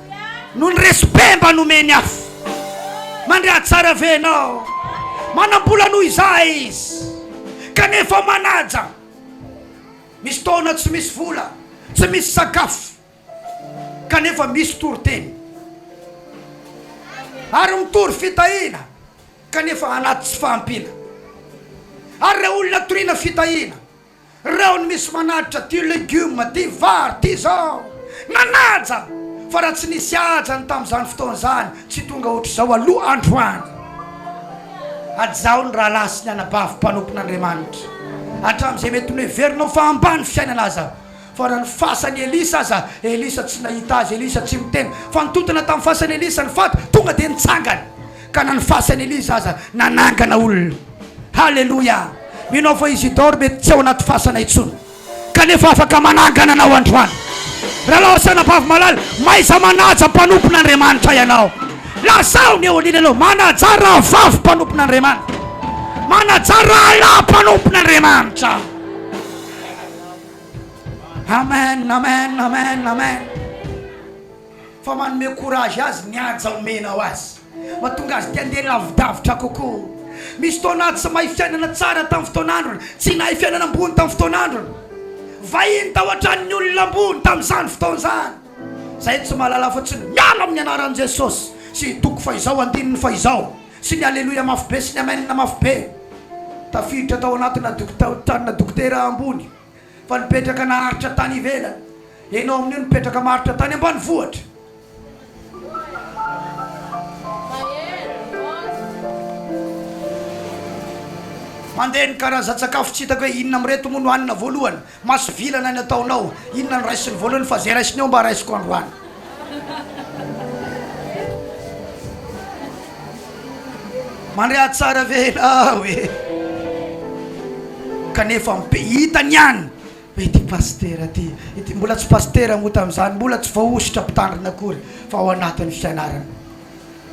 [SPEAKER 1] Noho ny respect mba nomeny af. Mandre atsara ve enao? Manambola noho izahay izy kanefa manaja. Misy taona tsy misy vola, tsy misy sakafo kanefa misy toriteny ary mitory fitahiana kanefa anaty tsy fahampiana ary ireo olona toriana fitahiana. Reo ny misy manaitra ty legume ty vary ty zao nanaja fa raha tsy nisy haja ny tamzany fotoana zany tsy tonga otrzao aloha androany. Hajao ny rahalahy sy ny anabavy mpanompon'Andriamanitra hatramzay mety noheverinao fa ambany fiainana aza. Fa raha ny fasan'i Elisa aza, Elisa tsy nahita azy, Elisa tsy miteny, fa nitontona tamin'ny fasan'i Elisa ny faty, tonga dia nitsangana. Ka na ny fasan'i Elisa aza nanangana olona. Haleloia! Mino aho fa Isidore mety tsy ao anaty fasana intsony, kanefa afaka manangana anao androany. Rahalahy sy anabavy malala, mahaiza manaja mpanompon'Andriamanitra ianao. Lazao ny eo anilany eo, manajà rahavavy mpanompon'Andriamanitra. Manajà rahalahy mpanompon'Andriamanitra. Amen amen amen amen fa manome courage azy ny haja omenao azy matonga azy te andeha lavidavitra kokoa misy fotoana tsy mahay fiainana tsara tamin'ny fotoan'androny tsy nahay fiainana ambony tamin'ny fotoan'androny vahiny tao an-tranon'ny olona ambony tamin'izany fotoana izany zay tsy mahalala fotsiny miala amin'ny anaran'i jesosy sy hitoko fa izao andininy fa izao Sy ny Aleloia mafy be sy ny Amen mafy be. Tafiditra tao anatina tanina dokotera ambony fa nipetraka naharitra tany ivelany. Enao amin'io nipetraka maharitra tany ambanivohitra. Mandeha ny karazan-tsakafo tsy hitako hoe inona amin'ireto moa no hanina voalohany. Masovilana ny ataonao. Inona no raisiny voalohany fa zay raisiny eo mba raisiko androany. Mandre ahy tsara ve enao e? Kanefa mipe hita ny any hoe ity pasitera ty, ity mbola tsy pasitera moa tamin'izany, mbola tsy voahosotra mpitandrina akory fa ao anatin'ny fianarana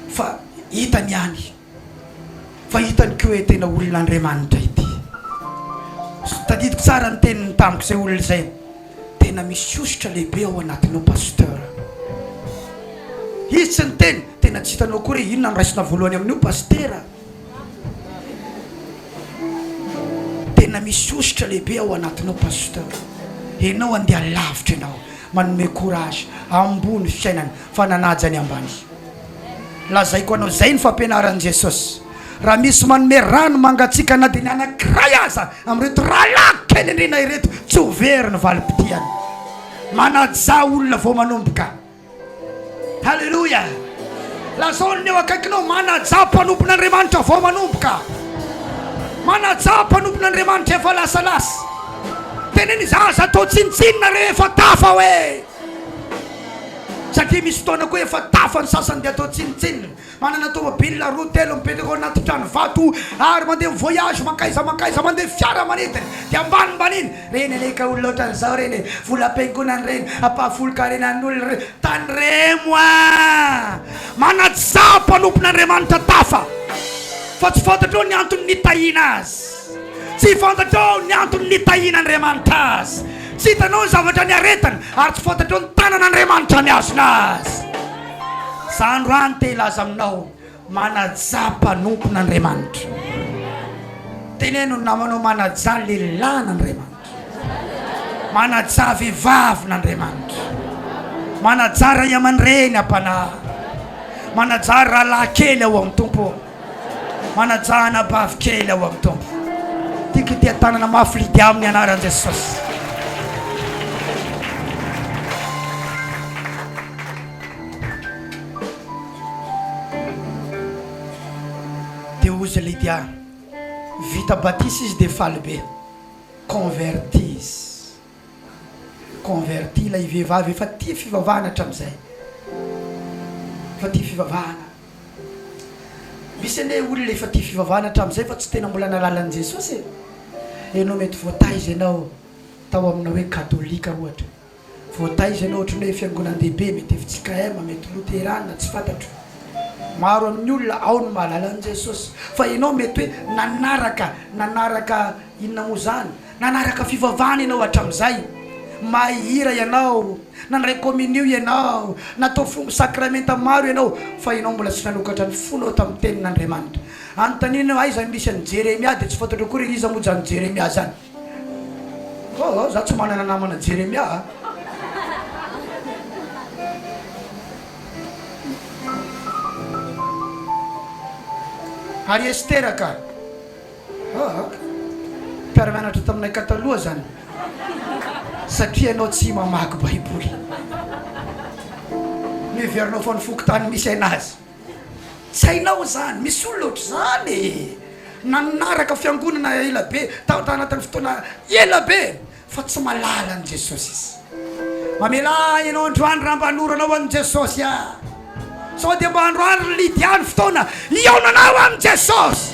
[SPEAKER 1] fa hita ny any. Fa hitany ko hoe tena olona Andriamanitra ity. Tadidiko tsara ny teniny tamiko zay olona zay. Tena misy hosotra lehibe ao anatinao Pasteur. Izy tsy niteny, tena tsy hitanao akory hoe inona no raisina voalohany amin'io Pastera. Tena misy hosotra lehibe ao anatinao Pasteur. Enao andeha lavitra enao. Manome courage, ambony fiainana fa nanaja ny ambany. Lazaiko anao izay ny fampianaran'i Jesosy. Raha misy manome rano mangatsiaka na dia ny anankiray aza amin'ireto rahalahy kely indrindra ireto, tsy ho very ny valim-potiany. Manajà olona vao manomboka. Haleloia! Lazao ny eo akaikinao, manajà mpanompon'Andriamanitra vao manomboka. Manajà mpanompon'Andriamanitra efa lasalasa. Tenen'izaza atao tsinontsinona rehefa tafa hoe. Satria misy fotoana koa efa tafa ny sasany dia atao tsinontsinona. Manana tomobilina roa telo mipetraka ao anaty trano vato ary mandeha mi voyage mankaiza mankaiza mandeha fiara manidina dia ambanimbaniny reny anie ka olona otran'izao reny e volam-piangonana reny ampahafolon-karenan'olona re tandremo a manaja mpanompon'Andriamanitra tafa fa tsy fantatrao ny antony nitahiana azy Tsy fantatrao ny antony nitahiana Andriamanitra azy. Tsy hitanao ny zavatra niaretany, ary tsy fantatrao ny tanan' Andriamanitra nihazona azy. Za androany te hilaza aminao, manajà mpanompon' Andriamanitra. Teneno ny namanao, manajà lehilahin' Andriamanitra. Manajà vehivavin' Andriamanitra. Manajà ray aman-dreny am-panahy. Manajà rahalahy kely ao amin'ny Tompo. Manajà anabavy kely ao amin'ny Tompo. Tiako hitia tanana mafy Lydia amin'ny anaran'i Jesosy. Dia hozy Lydia, vita batisa izy dia faly be. Convertie izy. converti ilay vehivavy efa tia fivavahana hatramin'izay, efa tia fivavahana, misy anie olona efa tia fivavahana hatramin'izay fa tsy tena mbola nahalala an'i Jesosy e, ianao mety voataiza ianao tao amina hoe katolika ohatra, voataiza ianao ohatran'ny hoe fiangonan-dehibe, mety fjkm, mety loterana, tsy fantatro, maro amin'ny olona ao no mahalala an'i Jesosy fa ianao mety hoe nanaraka, nanaraka inona moa izany, Nanaraka fivavahana ianao hatramin'izay. Mahay hira ianao, nandray kominio ianao, natao fongo sakramenta maro ianao, fa ianao mbola tsy nanokatra ny fonao tamin'ny Tenin'Andriamanitra. Anontaniana ianao, Aiza no misy an'i Jeremia? Dia tsy fantatro akory hoe iza moa izany Jeremia izany. Oh, oh, izaho tsy manana namana Jeremia a! Ary Estera ka! Aa! Mpiara-mianatra taminay ka taloha zany satria ianao tsy mamaky baiboly. Miheverinao fa ny fokontany misy ainazy. Tsy hainao izany. Misy olona ohatr'izany e! Nanaraka fiangonana elabe, tao anatin'ny fotoana elabe, Fa tsy malala an'i Jesosy izy. Mamelà ahy ianao androany raha mba hanoranao an'i Jesosy aho. Sao dia mba androany ry Lydia ny fotoana hihaonanao amin'i Jesosy.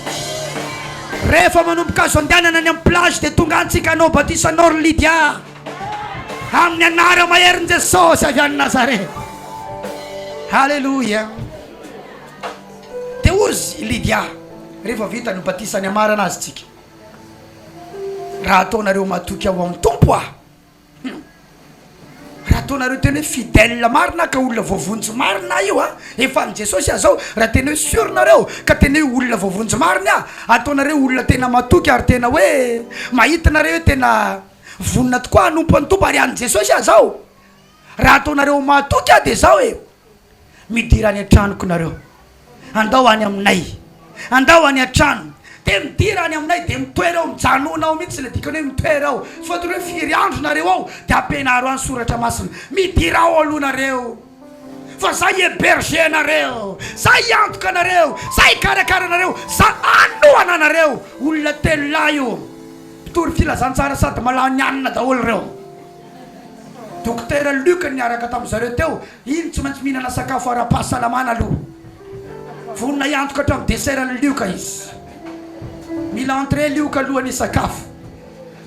[SPEAKER 1] Rehefa manomboka azo andehanana any amin'ny plage dia tonga antsika hanao batisa anao ry Lydia. Amin'ny anara maherin'i Jesosy avy any Nazareth. Haleloia. Dia hozy i Lydia rehefa vita ny batisa ny hamarana azy tsika. Raha ataonareo matoky ao amin'ny Tompo aho, hum, raha ataonareo tena hoe fidèle marina aho ka olona voavonjy marina aho io an, efa an'i Jesosy aho zao, raha tena hoe sur nareo ka tena hoe olona voavonjy marina aho, ataonareo olona tena matoky ary tena hoe mahita nareo hoe tena vonona tokoa hanompo an'i Tompo ary an'i Jesosy aho zao, raha ataonareo matoky aho dia zao e, midira any an-tranoko nareo, andao any aminay, andao any an-trano, dia midira any aminay, dia mitoera ao, mijanona ao mihitsy, ilay dikany hoe mitoera ao, tsy voatery hoe firy andro nareo ao, dia ampianaro any soratra masina, midira ao aloha nareo, fa za hi-heberger anareo, za hiantoka anareo, za hikarakara anareo, za hanohana anareo, olona telo lahy io, mpitory filazantsara sady mahalany hanina daholo ireo. Dokotera Luc niaraka tamin'ny zareo teo, iny tsy maintsy mihinana sakafo ara-pahasalamana aloha. Vonona hiantoka hatramin'ny dessert ny lioka izy. Mila entrée lioka alohan'ny hisakafo.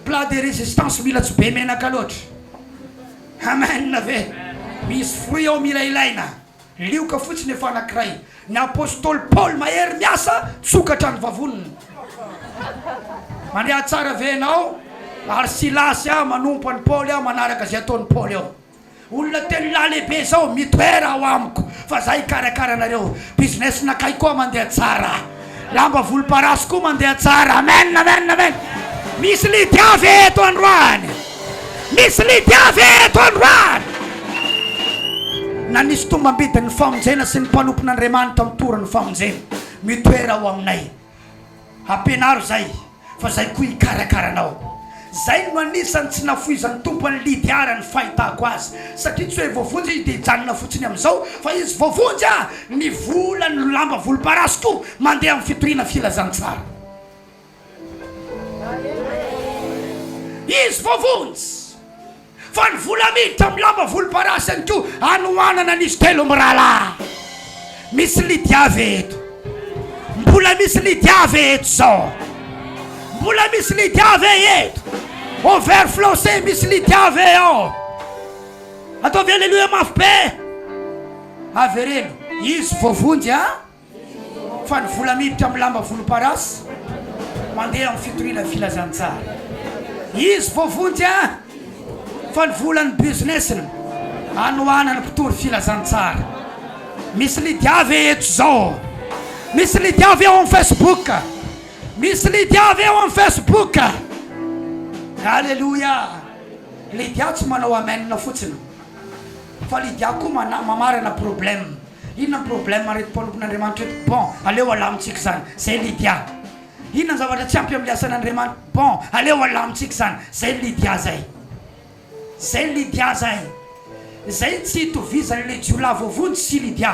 [SPEAKER 1] Plat de résistance mila tsy be menaka loatra. Amen ve? Misy fruit ao mila ilaina. Lioka fotsiny efa anankiray. Ny apostoly Paoly mahery miasa misokatra ny vavoniny. Mandeha tsara ve ianao? Ary Silasy aho manompo an'i Paoly aho manaraka izay ataon'i Paoly aho. Olona telo lahy lehibe izao mitoera ao amiko fa izaho hikarakara anareo. Business-nakay koa mandeha tsara. Lamba volomparasy koa mandeha tsara. Amen amen amen misy lidy avy eto androany misy lidy avy eto androany na nisy tombambidin'ny famonjena sy ny mpanompon'Andriamanitra mitory ny famonjena mitoera ao aminay ampianaro izay Fa zay koa hikarakara anao. Zay no anisany tsy nafoizan'ny Tompo an'i Lydia raha ny fahitako azy. Satria tsy hoe voavonjy izy dia hijanona fotsiny amin'izao fa izy voavonjy a! Ny volany no lamba volomparasy koa mandeha amin'ny fitoriana filazantsara. Izy voavonjy! Fa ny vola miditra amin'ny lamba volomparasy ihany koa anohanana an'izy telo mirahalahy. Misy Lydia ve eto? Mbola misy Lydia ve eto izao? Mbola misy Lydia ve eto? Au vert flancé misy Lydia ve ao? Ataovy Alléluia mafy be. Avereno, izy voavonjy a. Fa ny vola miditra amin'ny lamba volomparasy mandeha amin'ny fitoriana filazantsara. Izy voavonjy an! Fa ny volan'ny business-ny anohanan'ny mpitory filazantsara. Misy Lydia ve eto izao? Misy Lydia ve ao amin'ny Facebook? Misy Lydia ve ao amin'ny Facebook? Aleloia! Lydia tsy manao amen fotsiny fa Lydia koa mamarana problème. Inona ny problème reto mpanompon'Andriamanitra reto? Bon, aleo alamintsika izany, zay Lydia. Inona ny zavatra tsy ampy amin'ny asan'Andriamanitra? Bon, aleo alamintsika izany, zay Lydia zay. Zay Lydia zay. Izay tsy itovizan'ilay jiolahy voavonjy sy Lydia.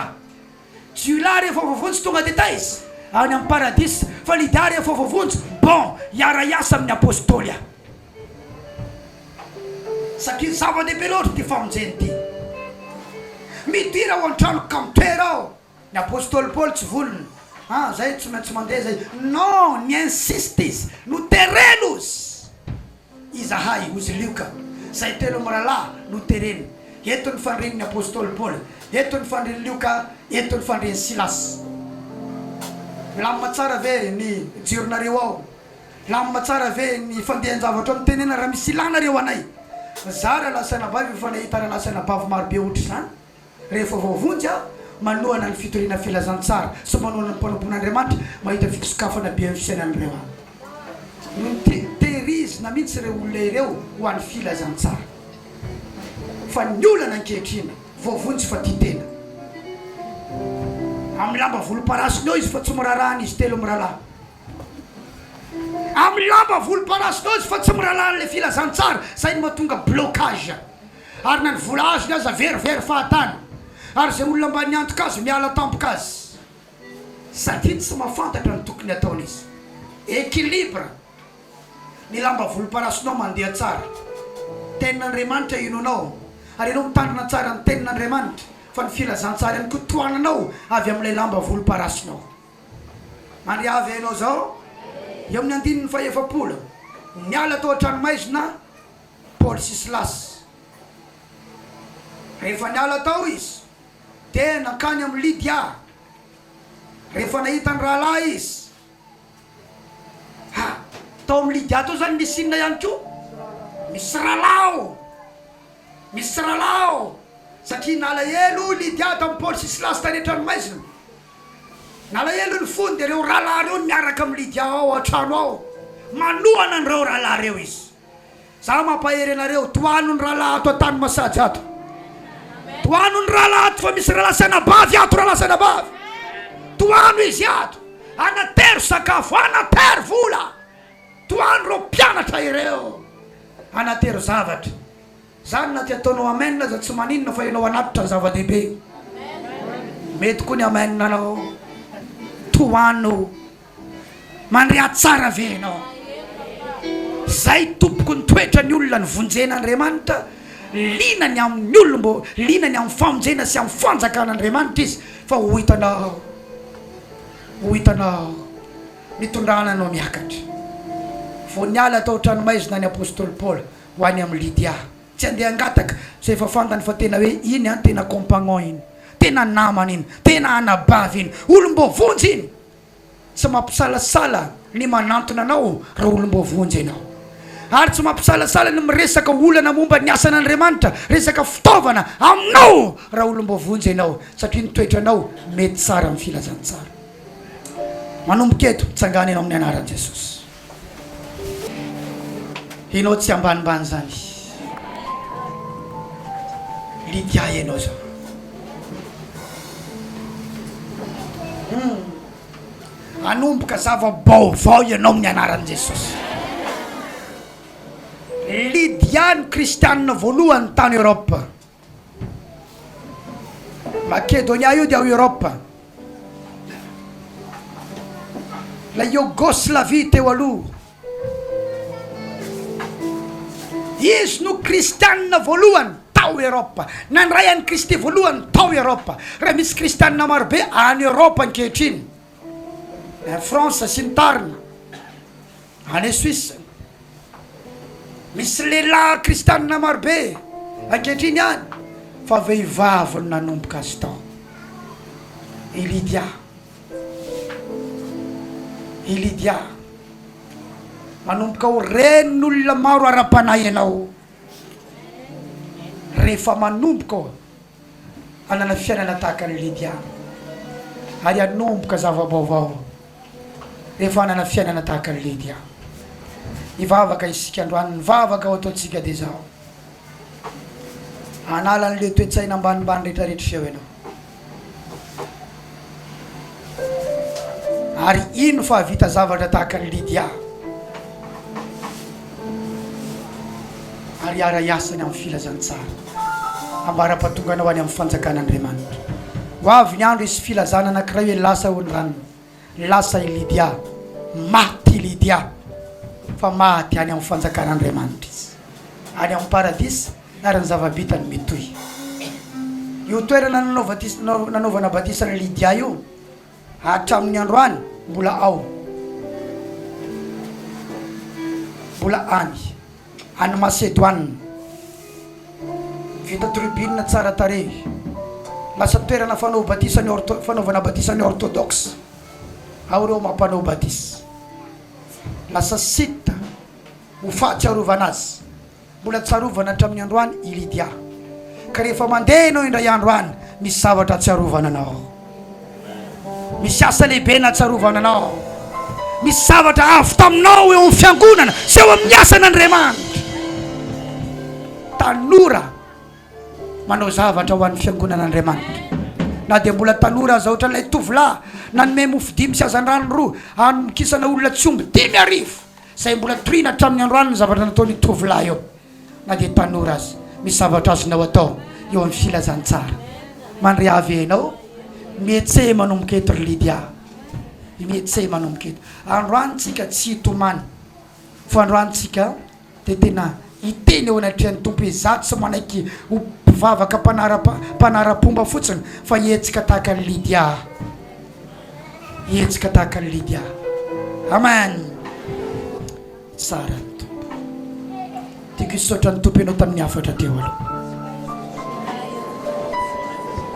[SPEAKER 1] Jiolahy rehefa voavonjy tonga dia taiza? Any amin'ny paradisa. Fa Lydia rehefa voavonjy, bon, hiara-hiasa amin'ny apostoly aho. Satria zava-dehibe loatra ity famonjena ity. Midira ao an-tranoko ka mitoera ao. Ny apostoly Paoly tsy voliny, Ah, izay tsy maintsy mandeha izay. Non, ni-insiste izy, Notereno ozy izahay, ozy Lioka, izay telo mirahalahy notereny. Eto ny fandrin'ny apostoly Paoly, eto ny fandrin'i Lioka, eto ny fandrin'i Silasy. Milamina tsara ve ny jironareo ao? Milamina tsara ve ny fandehan-javatra mitenena raha misy ilàna re ho anay? Mizara lahy sy anabavy io fa nahitana lahy sy anabavy maro be ohatra izany rehefa vao vonjy aho manohana ny fitoriana filazantsara sy manohana ny mpanompon'Andriamanitra mahita fisokafana be amin'ny fiainan'ireo aho no tehirizina mihitsy ireo olona ireo ho an'ny filazantsara fa ny olana ankehitriny vao vonjy fa tia tena amin'ny lamba volomparasiny eo izy fa tsy miraharaha an'izy telo mirahalahy amin'ny lamba volomparasy daholo izy fa tsy mirahalaha an'ilay filazantsara, izay no mahatonga blocage, ary na ny vola azony aza very very fahatany, ary izay olona mba niantoka azy miala tampoka azy satria tsy mahafantatra ny tokony hataony izy, equilibre, ny lamba volomparasinao mandeha tsara, tenin'Andriamanitra inoanao ary ianao mitandrina tsara ny tenin'Andriamanitra fa ny filazantsara ihany koa tohananao avy amin'ilay lamba volomparasinao. Mandria avy ianao izao, eo amin'ny andininy fahefapolo, Niala tao an-tranomaizina Paoly sy Silasy. Rehefa niala tao izy, dia nankany amin'i Lydia. Rehefa nahita ny rahalahy izy. Ha! Tao amin'i Lydia tao izany nisy inona ihany koa? Misy rahalahy ao! Misy rahalahy ao! Satria nalahelo i Lydia tamin'i Paoly sy Silasy tany an-tranomaizina. Nalahelo ny fony dia ireo rahalahy ireo niaraka amin'i Lydia ao an-trano ao. Manohana an'ireo rahalahy ireo izy. Izaho mampahery anareo, tohano ny rahalahy ato an-tany masaja ato. Tohano ny rahalahy ato fa misy rahalahy sy anabavy ato, rahalahy sy anabavy. Tohano izy ato. Anatero sakafo, anatero vola. Tohano ireo mpianatra ireo. Anatero zavatra. Zany na dia ataonao amen aza tsy maninona fa enao anatitra ny zava dehibe mety koa ny amen anao tohano mandre atsara ve enao zay tompoko ny toetra ny olona ny vonjena andriamanitra lina ny amin'ny olombo lina ny amin'ny famonjena sy amin'ny fanjakana andriamanitra izy fa ho hitanao ho hitanao mitondrana anao miakatra vao niala tao tranomaizina ny apostoly paoly Ho any amin'i Lydia. Tsy handeha hangataka izay efa fantany fa tena hoe iny an, tena compagnon iny, tena namana iny, tena anabavy iny, olom-boavonjy iny. Tsy mampisalasala ny manantona anao raha olom-boavonjy ianao. Ary tsy mampisalasala ny miresaka olana momba ny asan'Andriamanitra, resaka fitaovana, aminao raha olom-boavonjy ianao, satria ny toetranao mety tsara amin'ny filazantsara. Manomboka eto, tsangana ianao amin'ny anaran'i Jesosy. Ianao tsy ambanimbany izany Lydia ianao izao hum hanomboka zava-baovao ianao amin'ny anaran'i Jesosy Lydia no kristianina voalohany tany Europe Makedonia io dia ao Eoropa. Ilay Yogoslavia teo aloha. Izy no kristianina voalohany tao Eoropa. Nandray an'i Kristy voalohany tao Eoropa. Raha misy kristianina marobe any Eoropa ankehitriny. Air France sy ny tariny any Suisse. Misy lehilahy kristianina marobe ankehitriny any fa vehivavy no nanomboka azy tao. I Lydia. I Lydia. Manomboka ho ren'olona maro ara-panahy ianao rehefa manomboka hanana fiainana tahaka an'i Lydia ary hanomboka zava-baovao rehefa hanana fiainana tahaka an'i Lydia. Hivavaka isika androany, ny vavaka ho ataontsika dia izao, Hanala an'ilay toe-tsaina ambanimbany rehetra rehetra izao Ianao. Ary ino fa hahavita zavatra tahaka an'i Lydia ary hiara-hiasa ny amin'ny filazantsara ambara-pahatongana ho any amin'ny fanjakan'Andriamanitra. Ho avy ny andro hisy filazana anankiray hoe lasa hono ranona, lasa i Lydia, maty i Lydia fa maty any amin'ny fanjakan'Andriamanitra izy, any amin'ny paradisa. ary ny zava-bitany mitohy. Io toerana nanaovana batisa an'i Lydia io hatramin'ny androany mbola ao, mbola any, any Masedoine. Vita tribune tsara tarehy, lasa toerana fanao batisa ny ortho, fanaovana batisa ny orthodoxe ao ireo mampanao batisa. Lasa site ho fahatsiarovana azy. Mbola tsarovana hatramin'ny androany i Lydia, ka rehefa mandeha ianao indray andro any, misy zavatra atsiarovana anao. Misy asa lehibe natsarovana anao. Misy zavatra avy taminao eo amin'ny fiangonana sy eo amin'ny asan'Andriamanitra. Tanora manao zavatra ho an'ny fiangonan'Andriamanitra. Na dia mbola tanora aza, ohatran'ilay tovolahy nanome mofo dimy sy hazandrano roa hanomokisana olona tsy omby dimy arivo. Izay mbola toriana hatramin'ny androany ny zavatra nataon'io tovolahy io, na dia tanora aza. Misy zavatra azonao atao eo amin'ny filazantsara. Mandria avy eo ianao. Mihetse manomboka eto ry Lydia. Mihetse manomboka eto. Androany tsika tsy hitomany, fa androany tsika dia tena hiteny eo anatrehan'ny Tompo hoe izaho tsy manaiky ho mpivavaka mpanara-pomba fotsiny fa hihetsika tahaka an'i Lydia aho. Hihetsika tahaka an'i Lydia aho. Amen. Tsara ny Tompo. Tiako hisaotra ny Tompo ianao tamin'ny hafatra teo aloha.